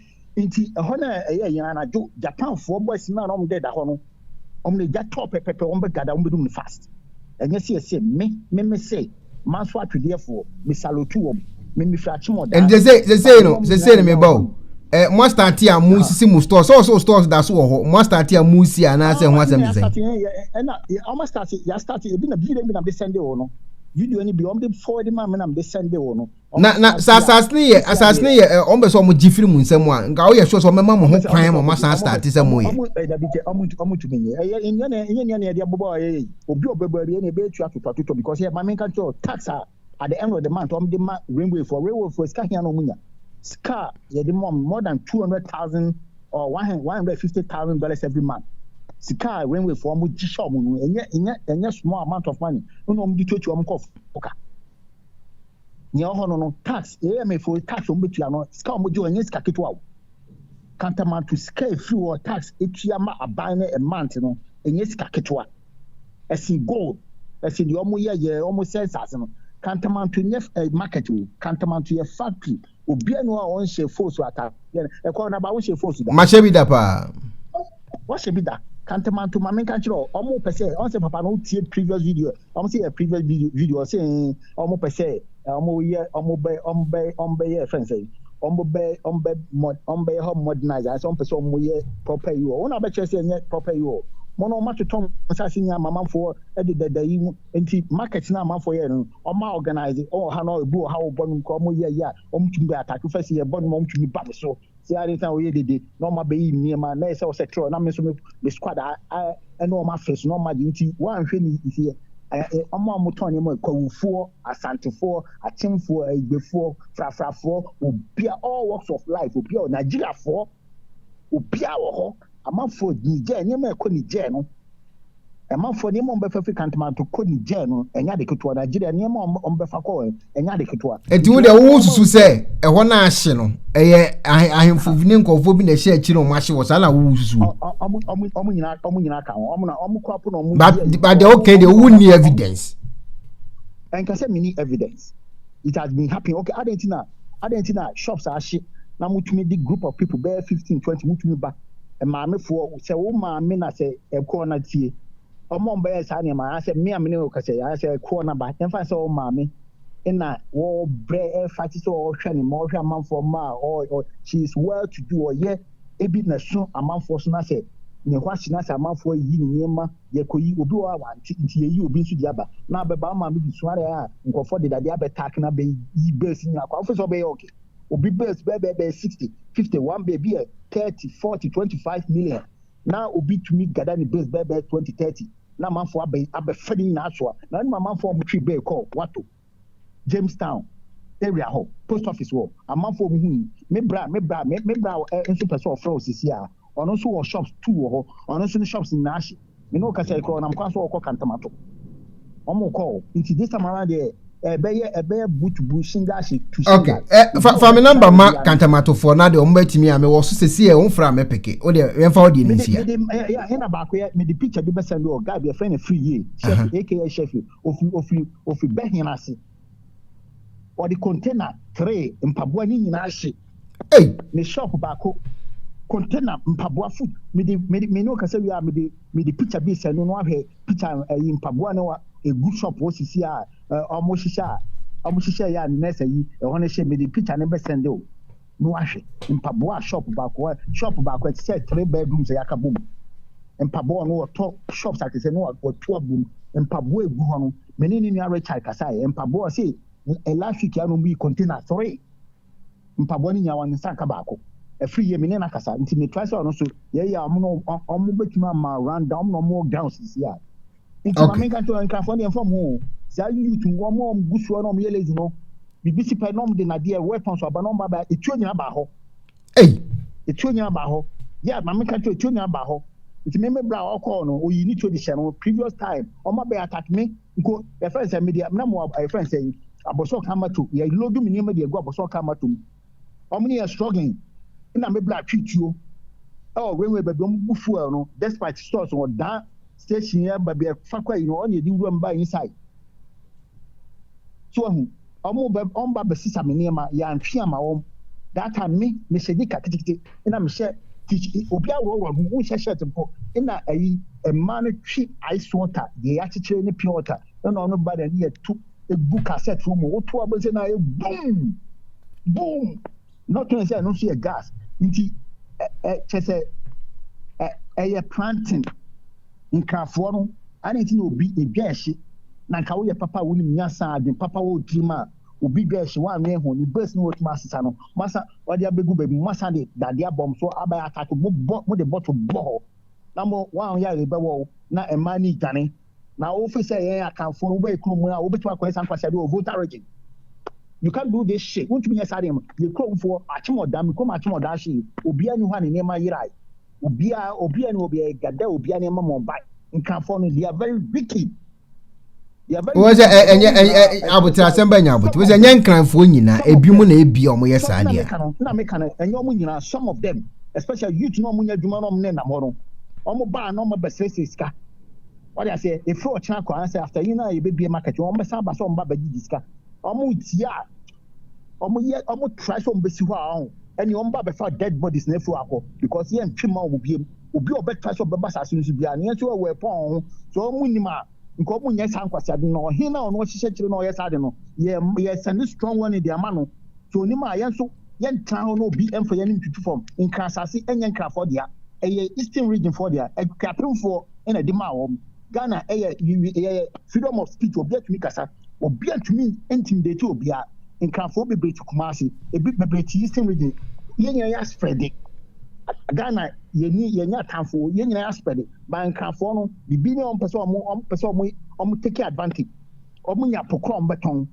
nti ɛhɔ na ɛyɛ yɛn anadwo Japanfoɔ boys na ɔmo dɛ da hɔ no Ɔmo na egya tɔ pɛpɛpɛ ɔmo bɛ gada ɔmo bɛ dum no fast ɛnyɛ sɛ yɛsɛ me me me sɛ manso atwedeɛ foɔ me salotu wɔm me me fira kyemɔ daa ɛnti sɛ sɛ sɛ no sɛ sɛ no me ba o ɛ mo astate a mo sisi mo stores sɛ ɔsɛ stores da so wɔ hɔ mo astate a mo si anaasɛ ho asɛm sɛ ɛna ɔmo astate yɛ astate ebi na bi de bi na de sɛnde wɔ no video ni bi ɔmo de forward ma me na me de sɛnde wɔ no na na sɛ asase no yɛ asase no yɛ ɛ wɔn bɛ sɛ wɔn gye firi mu nsɛm a nka wɔyɛ sure sɛ wɔn bɛma mo ho kwan ma wɔn asan start sɛ mo yɛ. dabi kyɛ ɔmo ntu ɔmo ntumi nyɛ ɛyɛ nyɛ na nyɛ nyɛ na yɛde abobɔ a yɛyɛ yi obi a ɔbɛbɔ awie na ebe etua toto atotɔ because yɛ maame nka kyerɛ tax a at the end of the month ɔmo de ma railway for railway for sika hia na ɔmo nya sika yɛde ma ɔmo more than two hundred thousand or one hundred fifty thousand dollars every month sika a railway for ɔmo gye hyɛ ɔmo no ɛnyɛ ɛnyɛ ɛnyɛ small amount of money ɛna ɔmo de tuatua ɔmo kɔ fo ka. Nea ɔhɔ no no tax AMA fo tax wɔn betua no sika wɔn gye wɔn nyɛ sika ketewa o. Kantamanto sika efiri wɔ tax etua ma aban no ɛmant no ɛnyɛ sika ketewa. Ɛsen gold ɛsen deɛ wɔn yɛ yɛ wɔn sɛ nsaase no. Kantamanto nyɛ ɛ market o. Kantamanto yɛ factory. obi anu a ɔnhyɛ foosu ataadeɛ no ɛkɔ na ba wonhyɛ foosu da. mahyɛ bi da paa. wɔhyɛ bi da kantamanto maame nka kyerɛ ɔ ɔmo pɛ sɛ ɔn sɛ papa no wotie previous video ɔmo sɛ yɛ previous video video ɔsɛ ɛn ɔmo pɛ sɛ ɔmo yɛ ɔmo bɛ ɔmo bɛ ɔmo bɛ yɛ fɛn sɛ ɔmo bɛ ɔmo bɛ mɔ ɔmo bɛ yɛ hɔ modernize ayɛ sɛ ɔmo pɛ sɛ ɔmo yɛ proper yi wɔ wɔn a bɛkyerɛ sɛ ɛnyɛ proper yi wɔ mo no ɔmo atotɔ mo nsaase nyinaa mamanfoɔ ɛde dada yi mu Nti market na amanfoɔ yɛ no ɔma organise ɔwɔ ha no ebi wɔ ha ɔbɔ nom koraa ɔmo yɛ ayie a ɔmo tumi bɛ attack first yɛ bɔ nom ɔmo tumi ba me so sɛ adeɛ nti na ɔyɛ dede na ɔmo abɛyi nneɛma na yɛ sɛ ɔsɛ trɔ na me nso me squad a ɛne ɔmo afɛ so na ɔmo agye nti wɔanhwɛ ne yie ɔmo a ɔmo tɔn nneɛma kwawufoɔ asantefoɔ akyemfoɔ aigbefoɔ frafrafoɔ obi a all works of life obi a Nigeriafoɔ Obiara wɔ hɔ. Amanfoɔ Niger nneɛma a ɛkɔ Niger no amanfoɔ nneɛma a wɔbɛfa fi Kantamanto kɔ Niger no ɛnyɛ ade ketewa Nigeria nneɛma a wɔbɛfa kɔ ɛnyɛ ade ketewa. Nti wo deɛ wo susu sɛ ɛhɔ no ahye no ɛyɛ ahemfo bi ne nkɔfoɔ bi na ɛhyɛ akyire na wɔn ahye wɔ saa na wo susu. Wɔn nyinaa wɔn nyinaa ka ho wɔn na wɔn kɔ apo na wɔn. But but deɛ wɔka deɛ wo ni evidence. Ɛnkasa mi ni evidence. it has been happening okay adɛn nti na adɛn nti na shops ahye na motumi de group of people bɛyɛ fifteen twenty motumi ba maamefoɔ sɛ wo maame na sɛ ɛkɔɔ na tie ɔmo a ɔmbɛyɛ saa nneɛma anaasɛ me a me ne wo kasa yi anaasɛ ɛkɔɔ na ba yɛmfa sɛ wo maame na wɔbrɛ ɛfa te sɛ ɔhwɛ ne ma ɔhwɛ amanfoɔ ma a she is well to do ɔyɛ ebi na so amanfoɔ so na sɛ ne hɔ ahye na sɛ amanfoɔ ayi ne nneɛma Yɛkɔyi obi hɔ a wante nti yɛyi obi nso de aba na abɛba ama me de suare a nkurɔfoɔ de dadeɛ abɛtack na abɛyi birds nyinaa kɔ a wofiri sɛ ɔbɛyɛ okay? Obi birds bɛyɛ bɛyɛ bɛyɛ 60, 50, one bird bi yɛ 30, 40, 25 million na obi tumi gather ne birds bɛyɛ bɛyɛ 20, 30 na amanfoɔ abɛ abɛfa ne nyinaa asoa na wonim amanfoɔ a wɔtwe bird kɔ wɔatɔ Jamestown area hɔ post office wɔ amanfoɔ ɔmo hui me bra me bra me me bra ɛ nso pɛ sɛ ɔfrɛ wo sisi a ɔno nso wɔ shops two wɔ hɔ ɔno nso ne shops nyinaa hye me ne ɔkasa ekura ɔnam kwan so ɔkɔ kantamato ɔmo kɔ nti this time around deɛ ɛbɛyɛ ɛbɛyɛ boot bu shinga hye tu shinga okay ɛ eh, fa fa me number ma kantamatofoɔ na deɛ ɔmo bɛtumi a mewɔ so sisi ɛ ɔmo fira me peke o deɛ yɛn fa ɔdeɛ ne nsia mede mede ɛna baako yɛ mede picture bi bɛsɛn de ɔ guy bi ɛfɛn ne free yie chef aka chef Ofi, ofi, ofi bɛhen ase. Ɔde container three mpaboa ne nyinaa hye. Ei. Ne shop baako container mpaboa fu. Mede, mede, me ne wo kasa wie a, mede, mede picture bi sɛ no no ahwɛ picture ɛyi mpaboa no a egu shop hɔ sisi a ɔmo hyehyɛ a ɔmo hyehyɛ yɛ a ne nurse ayi ɛhɔ no hye mede picture no bɛsɛnde o. no ahwɛ mpaboa a shop baako a shop baako a ɛte sɛ three bedrooms a yɛaka bom mpaboa no wɔtɔ shops ate sɛ no wɔto abom mpaboa egu hɔ no me ne ne nua Richard kasa yɛ mpaboa se last week a no bi container three mpaboa no nyinaa wɔn nsa nka baako ɛfiri yie me ne no kasa nti metra sɛ ɔno so yɛyɛ a ɔmo no ɔmo betumi ama round down ɔmo na ɔmo gowns sisi a nti maame Okay. nka sɛ nkrafoɔ deɛ mfa mo ho saa youth mu wɔn a wɔgu soɔ na wɔn yɛ lazy no biribi si pɛ na wɔn de nadeɛ weapon so aba na wɔn ba ba etuo nyinaa baa hɔ Ei. etuo nyinaa baa hɔ yɛ maame nka sɛ etuo nyinaa baa hɔ nti me me bra a ɔkɔɔ no oyi ne tuo de hyɛ no previous time wɔn ba bɛ attack me nko yɛfɛn sɛ media na mo yɛfɛn sɛ abɔsɔ kan ma to yɛ load me nneɛma de egu abɔsɔ kan ma to mu. Ɔmo ne yɛn struggling na me bra twe tuo ɛwɔ rainway baabi ɔmo bu fuel no despite stores wɔ daa station yɛ baabi ɛfa kɔ ayi no ɔne yɛde wura mu ba inside so ahu ɔmo bɛ ɔmo ba bɛsesa me nneɛma yɛantwe ama wɔn that time me mehyɛ nika kitikiti ɛna mehyɛ obi aworɔworɔ ho wonhyɛ shirt mpo ɛna ayi mmaa no twe ice water deɛ yɛakyekyere ne pure water ɛna ɔno ba na ɛne yɛtu ɛgu cassette no mu, woto a wobɛhu sɛ na ayɛ boom, boom, na ɔtwɛn sɛ ɛno nso yɛ gas nti kyɛ sɛ ɛyɛ planting nkrafoɔ no ane nti na obi ɛdwa ɛhye na nka woyɛ papa a wonim nyasa adwen papa wɔ tirim a obi dwa ɛhye woanwɛn ho ne base no wɔtumi asesa no masa wɔde abɛgu baabi masa de dadeɛ abɔm so abɛyɛ atake mobɔ mode bɔto bɔ hɔ na mo wɔn yɛ rebɛwɔ na mmaa ne dwane Na wo fi sɛ yɛn akanfoɔ no wobɛyɛ kurom a wobɛtumi akɔyɛ saa nkwaseade wɔ Volta region you can't do this shit wontumi nyɛ saa deɛ mu yɛ kuromfoɔ akyem ɔda me kurom akyem ɔda ahye obiara ni hɔ a ne nneɛma yerae obiara obiara ni hɔ obiara yɛ gada obiara nneɛma ma ɔba nkanfoɔ no they are very wicked wọ́n sẹ ẹ ẹnyẹ ẹ ẹ abotire asẹm bẹẹ nyẹ abotire wọ́n sẹ ẹnyẹ nkranfoɔ nyinaa ebi mu na ebi a wɔyɛ saa deɛ. na mi kan ɛnyɛ wɔn nyinaa some of them especially youth na wɔn nyɛ adwuma na wɔn nenam hɔ no wɔn baa na wɔn bɛsrɛsrɛ sika Wate aseɛ, ɛfiri ɔkyena kɔ ansa after yi na yɛbɛbie market, wɔn bɛsan aba sɛ wɔn ba bɛgye gye sika, wɔn retie a wɔn yɛ wɔn try sɛ wɔn bɛsi hɔ a ɔho, ɛne wɔn ba bɛfa dead bodies na ɛfiri akɔ because yɛn ntwe ma wɔn biem, obi a ɔbɛtra sɛ ɔbɛba saase no so biara no yɛn nso ɛwɔ ɛpɔn wɔn ho, sɛ wɔn nim a nka wɔn nyɛ saa nkwaseade no, na ɔhen na ɔno ɔhyehyɛ kyerɛ na ɔyɛ saa de no, yɛ yɛ send strong one de ama no, sɛ onim a yɛn nso. Yɛntena hɔ na obi mfa yɛn ntutu fam. Nkran asase nyɛ Nkranfoɔ dea. Ɛyɛ Eastern Region foɔ dea. Akuapemfoɔ na ɛde maa wɔn. Ghana yɛ yɛ freedom of speech, obiara tumi kasa. Obiara ntumi intimidate obiara. Nkranfoɔ bebree te Kumasi, ebi bebree te Eastern Region. Yɛn nyinaa yɛ asprɛde. Ghana yɛni yɛnyɛ atamfoɔ, yɛn nyinaa yɛ asprɛde. Ba Nkranfoɔ no, biribi ne wɔn pɛ sɛ wɔn wɔn pɛ sɛ wɔn wɔn take advantage. Wɔn nya pokorɔ wɔn bɛtɔn.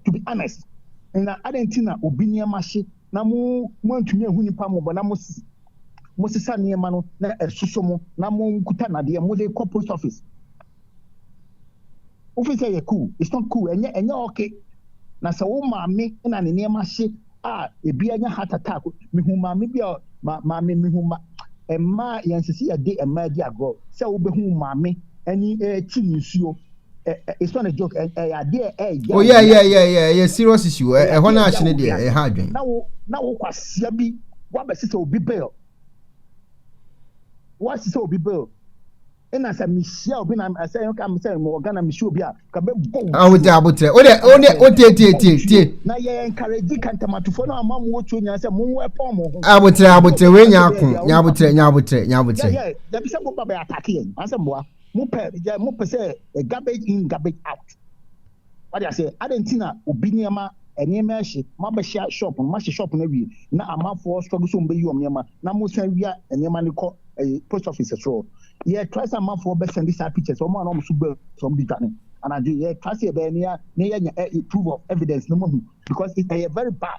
To be honest, na adɛn nti na obi nneɛma hye na mo moantumi anhu nipa mmɔbɔ na mos mosesa nneɛma no na ɛsoso mo na monkuta nadeɛ mode kɔ post office? Wofi sɛ yɛ cool, it's not cool, ɛnyɛ ɛnyɛ ɔke. Na sɛ wo maame na ne nneɛma hye Ah ebi anya heart attack mehu maame bi a ma maame mehu ma mmaa yɛnsɛ sɛ yɛde mmaa di agorɔ sɛ wobɛhu maame ani ɛti ne nsuo it's not a joke ɛyɛ adeɛ ɛyɛ oyɛ yɛ yɛ yɛ ɛyɛ serious issue ɛhɔ no ahye no deɛ ɛha adwen na wo na wo kwasia bi wabɛsesɛ obi bail wasesɛ obi bail ɛna sɛ mehyia obi na ɛsɛ yɛn ka sɛ mewɔ ghana mehyia obi a ka bɛbɔ wo ah, wode abotrɛ wode wode wotietietie na yɛ encourage kantamatofoɔ no ama mo wɔtuo nyinaa sɛ monwɔ ɛpɔn mo ho abotrɛ abotrɛ wei nya ako nya abotrɛ nya abotrɛ nya abotrɛ dabi sɛ moba bɛyɛ atake yɛn asɛ mmoa mopɛ mopɛ sɛ eh, garbage in garbage out Wate aseɛ? Adɛn nti na obi nneɛma, nneɛma ɛhye, moabɛhyia shop no, moahyɛ shop no awie, na amanfoɔ struggle sɛ wɔbɛyi wɔn nneɛma, na mosan wia nneɛma no kɔ ɛyi, post office soɔ. Yɛ try sɛ amanfoɔ bɛ send saa pictures, wɔn a na wɔn so bɛ sɛ wɔn de dwane anadwo, yɛ try sɛ yɛbɛyɛ ne yɛ, ne yɛ nya ɛ, proof of evidence na moahu, because ɛyɛ very bad.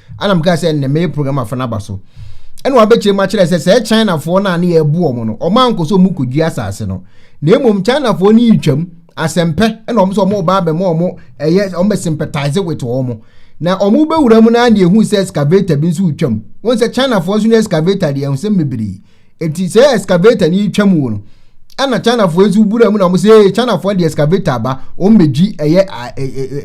Ana mkaa sɛ nnɛ mɛyɛ program afa no aba so. Ɛna wabɛkyerɛ mu akyerɛ sɛ sɛ Chinafoɔ no a ne yɛbu wɔn no, wɔn ankɔ sɛ wɔn kɔdua asase no. Na mmom Chinafoɔ no retwam asɛmpɛ ɛna wɔn sɛ wɔn ba abɛma wɔn ɛyɛ wɔn bɛ sympathize with wɔn. Na wɔn bɛwura mu na ne ehu sɛ excavator bi nso retwam. Wɔn sɛ Chinafoɔ nso ne excavator deɛ ɛho sɛ bebree. Eti sɛ excavator ni twa mu wo no, ɛna Chinafoɔ yi nso wura mu na wɔn sɛ ee Chinafoɔ de excavator aba wɔn bɛgyi ɛyɛ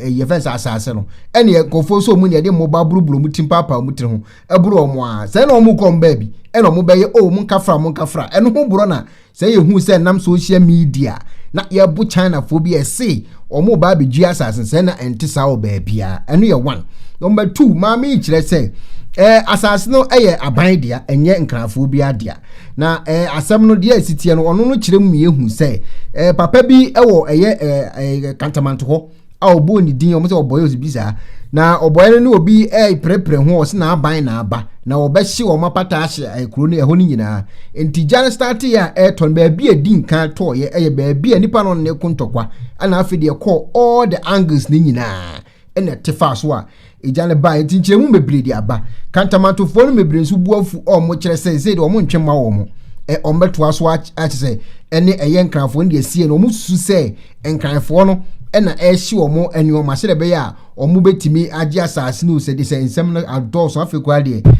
ɛyɛ fɛn sɛ asaase no ɛna nkurɔfoɔ nso wɔn deɛ de mmoba buruburu wɔn ti mpaapaa wɔn tiri ho ɛboro wɔn a sɛ na wɔn kɔ wɔn baabi ɛna wɔn bɛyɛ o wɔn nkafra wɔn nkafra ɛno ho borɔ na sɛ yɛhu sɛ nam social media na yɛbo Chinafoɔ bi ɛse Wɔn ba abɛgye asase sɛ na ɛnte saa wɔ baabiara. Ɛno yɛ one. Number two, maame yi kyerɛ sɛ ɛɛ asase no yɛ aban dea, ɛnyɛ nkrafoɔ bi adea. Na ɛɛ asɛm no deɛ ɛsi teɛ no, ɔno no kyerɛ mu ma yɛhu sɛ ɛɛ papa bi wɔ ɛyɛ ɛɛ kantamanto hɔ a ɔbɔɔ ne din, wɔn sɛ ɔbɔyɛ ɔsi bi saa. Na ɔbɔyɛ no ne obi ɛɛprɛprɛ ho ɔsi n'aban n'aba. na wɔbɛhye wɔn apata ahye eh, kuro no ɛhɔ no nyinaa nti gya no starte yɛ a ɛretɔ no baabi a ɛdi nkan tɔɔyɛ ɛyɛ baabi a nipa no ne ko ntɔkwa ɛna afei deɛ ɛkɔɔ all the angles no nyinaa ɛna ɛte faa so a egya no baa nti nkyerɛmu bebree de aba kantamantofoɔ no bebree nso bu afu a wɔn kyerɛ sɛ ɛsɛ de wɔn ntwe ma wɔn ɛ wɔn bɛtoa so akyɛ sɛ ɛne ɛyɛ nkranfoɔ no deɛ sie no wɔn susu sɛ nkranfoɔ no ɛna ɛrehye wɔn nneɛma sɛdeɛ ɛbɛyɛ a Wɔbɛtumi agye asase no sɛ de sɛ nsɛm no adɔɔso afei koraa deɛ ɛɛ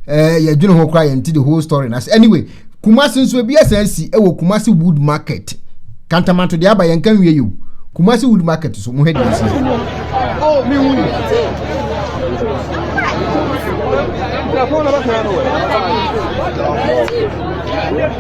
eh, yɛdwene ho koraa yɛnte the whole story na sɛ anyway kumase nso ebi asan si ɛwɔ kumase wood market kantamanto deɛ aba yɛn ka nwie yɛ o kumase wood market so mo hɛ deɛ si. Thank you.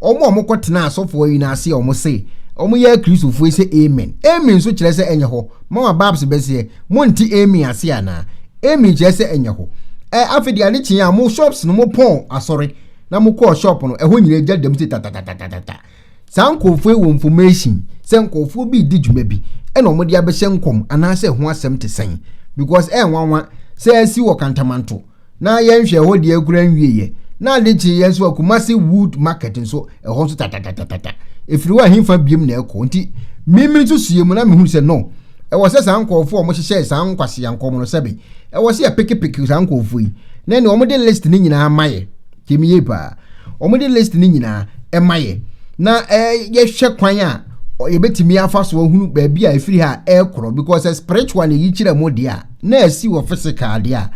Wɔn a wɔkɔtenaa asɔfo ayi no ase a wɔse wɔyɛ Akristofo yi sɛ amen. Amen nso kyerɛ sɛ ɛnyɛ hɔ. Mama Babs bɛseɛ, monte amen ase anaa? Amen kyerɛ sɛ ɛnyɛ hɔ. Ɛ afei de ade kyee a mo shops no mo pɔn asɔre na mo kɔɔ shop no ɛhɔ nyinaa gya dam se tatatatatata. Saa nkurɔfoɔ yi wɔ information sɛ nkurɔfoɔ bi redi dwuma bi ɛna wɔde abɛhyɛ nkɔm anaasɛ ɛho asɛm te sɛn because ɛyɛ nwanwa sɛ asi wɔ kantamanto na yɛn hwɛ hɔ deɛ kura nwie yɛ na ade kye yɛn nso akumase wood market nso ɛhɔ nso tatatatata efiri hɔ ahinfa biem na ɛkɔ nti mímí nso sie mu na mehunu sɛ no ɛwɔ sɛ saa nkurɔfoɔ a wɔhyehyɛ saa nkwasi ankɔm no sɛbe ɛwɔ sɛ yɛpekepeke saa nkurɔfoɔ yi na ɛne wɔn de list ne nyinaa ma yɛ tie me yie paa wɔde list no nyinaa ɛma yɛ na yɛhwɛ kwan a yɛbɛtumi afa so ahunu baabi a ɛfiri ha ɛkorɔ because sɛ spiritual na ɛyi kyerɛ mu deɛ a na ɛsi wɔ physical deɛ a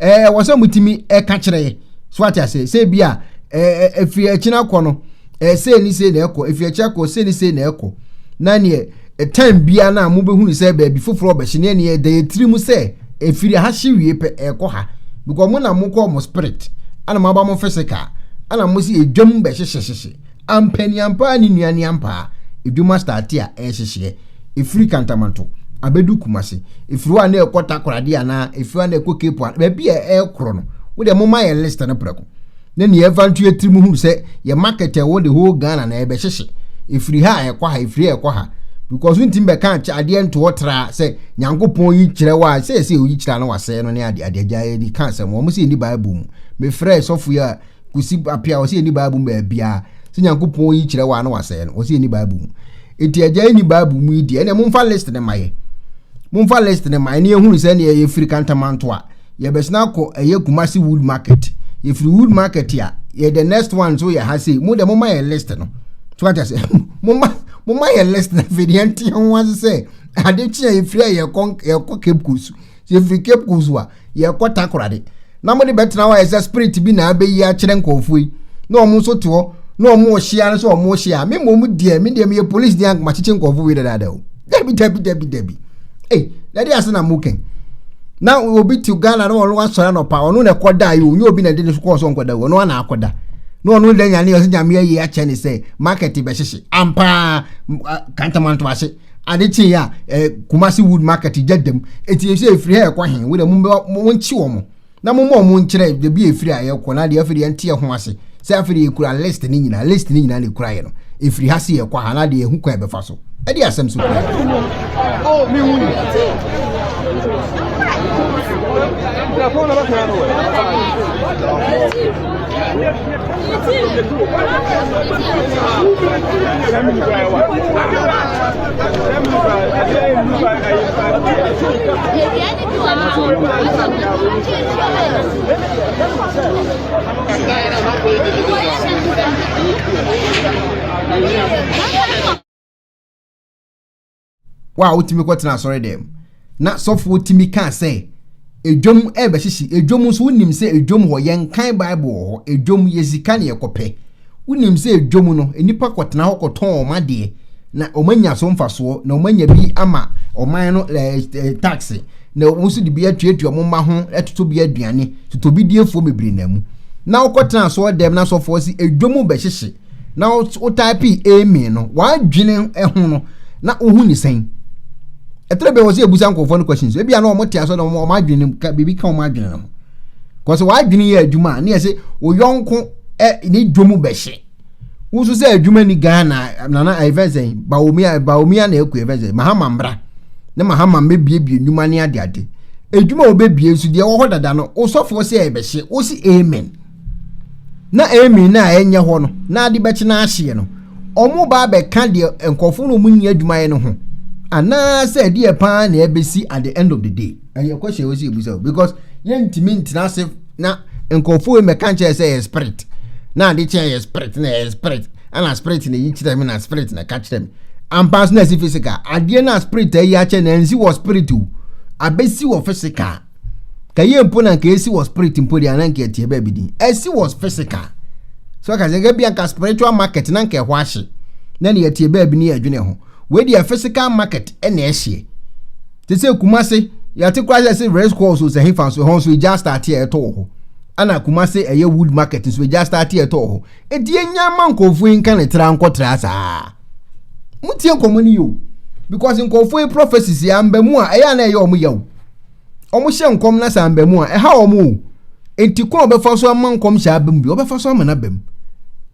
ɛɛ wɔ sɛ motumi ɛka kyerɛ so ate ase sɛ bi a ɛfiri akyina kɔ no ɛɛ sei ne sei na ɛkɔ efi akyire akɔ sei ne sei na ɛkɔ na neɛ ɛtan bia no a mobɛhunu sɛ baabi foforɔ ɔbɛhye neɛ neɛ ɛda yɛ tiri mu sɛ ɛfiri ha hye wie pɛ ɛkɔ ha because mo na mokɔ mo spirit ana moaba mo physical ana mo si ɛdwam bɛhyehyehyehye ampani ampaa ne nua ne ampaa ɛdwuma starte a ɛhyehyeɛ ɛfiri kantamanto abɛdu kumase ɛfiri hɔ a na ɛkɔ takorade anaa ɛfiri hɔ a na ɛkɔ cape a baabi a ɛkorɔ no wodeɛ moma yɛ list no prɛko ne nea ɛfa nto yɛ tirim hunu sɛ yɛ market a ɛwɔ the whole Ghana na yɛbɛhyehye ɛfiri ha a ɛkɔ ha ɛfiri ha ɛkɔ ha because ntumi bɛka akyɛ adeɛ ntoɔ tra sɛ nyankopɔn yi kyerɛ wɔ a sɛ ɛsɛ oyi kyerɛ na wasɛe no ne adeɛ adeɛ agya yɛni ka asɛm wɔn sɛ ɛni bible mu mefrɛ sɔfo yi a kusi apia wɔ sɛ ɛni bible mu baabiara sɛ nyankopɔn yi kyerɛ wɔ a na wasɛe no wɔ sɛ ɛni bible mu nti agya yɛni bible mu yi deɛ ɛnɛ momfa list ne ma yɛ momfa list ne ma yɛ ne yɛhunu sɛ neɛ yɛfiri kantamantoa yɛbɛsena akɔ ɛyɛ kumasi wood market yɛfiri wood market a yɛ the next one nso yɛ ha sei mo deɛ moma yɛ list no so ate ase moma moma yɛ list na afei deɛ nte ho ase sɛ ade kye a yɛfiri a yɛkɔ yɛkɔ cape coast yɛfiri cape coast a yɛkɔ takorade na mode bɛtena hɔ a ɛsɛ spirit bi na abɛyi akyerɛ nkurɔfoɔ yi na wɔn nso te hɔ na wɔn ɔhyia no sɛ wɔn ɔhyia me mmom deɛ me deɛ meyɛ police deɛ ankomakyekye nkurɔfoɔ wei dadaada o dabi dabi dabi dabi ei na de ase na mo kɛn na obi te ghana na ɔno asɔre anɔpa ɔno na ɛkɔ da yi onye obi na de ne so kɔɔ so nkɔ da ɔno ana akɔ da na ɔno da nyane ɔsɛ nyame ayie akyɛ ne sɛ market bɛhyehye ampaa kantamanto ase ade kye ya eh, kumasi wood market gya dam eti esi efiri ha ɛkɔ he wo de mo mo nkye wɔn Na momma ɔmo nkyerɛ baabi a efiri a yɛkɔ na deɛ afei deɛ yɛnte ɛho ase sɛ afei deɛ yɛkura list ne nyinaa list ne nyinaa na ekura yɛ no efiri ha se yɛkɔ ha na deɛ ehu kwan ɛbɛfa so ɛde asɛm so kura yɛ. wo a wotumi kɔtena asɔre dɛm na sɔfoɔ tumi kaa sɛ edwom ɛbɛhyehye edwom nso wonim sɛ edwom hɔ yɛnkan bible wɔ hɔ edwom yɛ sika ne yɛkɔpɛ Wonim sɛ dwa mu no, nnipa kɔtena hɔ kɔtɔn wɔn adeɛ na wɔanya so mfasoɔ na wɔanya bi ama ɔman no taxe na wɔn nso de bi atuatua wɔn mma ho ɛtoto bi aduane totɔbidiefoɔ bebree na mu na wokɔtena asɔɔ dɛm na asɔfoɔ si edwa mu bɛhyehye na wotaipee amen no wadwene ho no na wohu ne sɛn ɛtɛrɛ bɛ wɔ sɛ ebusa nkurɔfoɔ no questions ebi a na wɔn te asɔ na wɔn adwene ka biribi ka wɔn adwene no ho kɔsɛ w'adwene yɛ adwuma a ne yɛ se oyɔnko ɛ ne dwom bɛhyɛ wosu sɛ adwuma ni ghana nana ɛfɛn sɛ baomia baomia na ɛkɔ ɛfɛn sɛ mahama mbra ne mahama mbɛbiebie nnwuma ne ade ade adwuma a wɔbɛbie nso deɛ ɛwɔ hɔ dada no wosɔfoɔ sɛ ɛbɛhyɛ wosi amen na amen na ɛnyɛ hɔ no na ade bɛkye no ahyeɛ no wɔn ba abɛka deɛ nkurɔfoɔ no wɔn nyɛ adwuma yɛ no ho anaasɛ ɛdeɛ paa na ɛbɛsi at the end of the day ɛyɛ question a wɔsi ebusa o because yɛntumi ntena ase na nkurɔfoɔ yi mɛka nkyɛn sɛ ɛyɛ spirit na ade kyɛn ɛyɛ spirit na ɛyɛ spirit ɛna spirit na eyi kyerɛ mi na spirit na ɛka kyerɛ mi ampa nso na ɛsi physical adeɛ na spirit ayi akyɛ na ɛnsi wɔ spirit o abɛsi wɔ physical kɛyɛ mpo na nka esi wɔ spirit mpo deɛ anan kɛyɛ tiɛ bɛɛbi din ɛsi wɔ physical so ɛka sɛ ɛka bi anka spiritual market na nka ɛhɔ ahye na deɛ tiɛ bɛɛbi ne yɛ adwene ho. wei deɛ physical market na ɛhyeɛ te sɛ kumase yɛte kora sɛ sɛ race course sɛ hefa nso ɛhɔ nso ɛgya starte a ɛtɔ wɔ hɔ ana kumase ɛyɛ wood market nso ɛgya starte a ɛtɔ wɔ hɔ ɛti ɛnya ma nkɔɔfoɔ yi nka ne tra nkɔtra saa motie nkɔmmɔ no yio because nkɔɔfoɔ yi prophecies yɛ amba mu a ɛyɛ a na ɛyɛ ɔmo yaw ɔmo hyɛ nkɔm na sɛ amba mu a ɛha ɔmo o enti kɔn ɔbɛfa so ama nkɔm hyɛ aba mu bi ɔbɛfa so ama no aba mu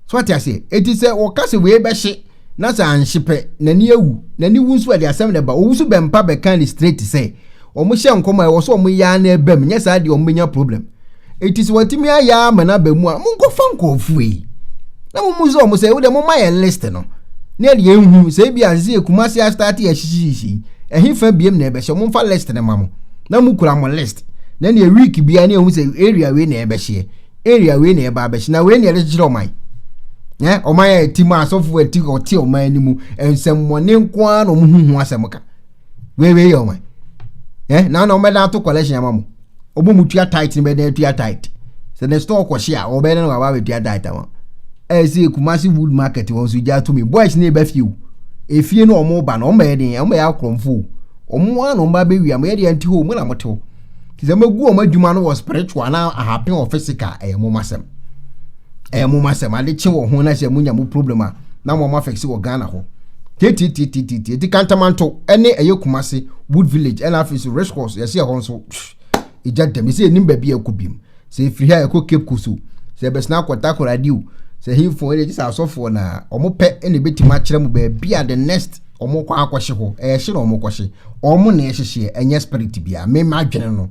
so ate aseɛ eti sɛ wɔka sɛ wei bɛhye na sɛ anhye pɛ n'ani awu n'ani wu nso ɛde asɛm na ɛba owu so bɛmpa bɛka ne straight sɛ wɔn hyɛ nkɔm a ɛwɔ so wɔn yaa na ɛbam nyɛ saa deɛ wɔn bɛnya problem eti sɛ wɔtumi ayaa ma n'aba mu a mo nkɔfa nkɔɔfoɔ yi na mo mu sɛ wɔn sɛ wode mo ma yɛn list no ne ɛde yɛn hu sɛ ebi asese yɛ kuma se astate yɛ hyehyehyehyɛ ɛhe fa biem na ɛbɛhyɛ wɔn fa list no ma mo na mo kura mo list na ne week bia ne ɛhu sɛ area wei na ɛbɛhyɛ area wei na ɛba abɛhyɛ na wei na yɛde kyekyere ɔman ɛ ɔman a ɛti mu asɔfo ɛti ɔte ɔman no mu nsɛmmɔne nko ara na wɔn ho ho asɛm ka wei wei yɛ ɔman ɛ na na wɔn bɛda ato collection ama mo wɔn mu tua tight no bɛda atua tight sɛ ne store kɔhye a wɔbɛda no waba abɛtua tight ama ɛyɛ sɛ kumasi wood market wɔn nso gya tumi boys na ɛbɛ fie o efie no wɔn ba no wɔn bɛyɛ den wɔn bɛyɛ akorɔmfo wɔn ara na wɔn ba bɛwia mo yɛ deɛ nti hɔ wɔn na mo te hɔ. nti sɛ mogu wɔn adwuma no wɔ spiritual na ahapen wɔ physical ɛyɛ mo masɛm ɛyɛ mo masɛm ade kye wɔ ho na sɛ monya mo problem a na mo ama fɛksi wɔ ghana hɔ titititititi eti kantamanto ɛne ɛyɛ kumase wood village ɛna afei so race course yɛsi ɛhɔ nso egya dɛm esi enim baabi a ɛkɔ biem. sɛ ɛfiri ha ɛkɔ Cape Coast o, sɛ ɛbɛsena akɔ Takoradi o, sɛ hefoɔ ɛne gye sɛ asɔfoɔ na wɔn pɛ ɛna ɛbɛtumi akyerɛ mu baabi a the next wɔn kɔ akɔhye hɔ, ɛhye na wɔn kɔhye, wɔn na ɛhyehyeɛ, ɛnyɛ spirit bia, me ma adwene no.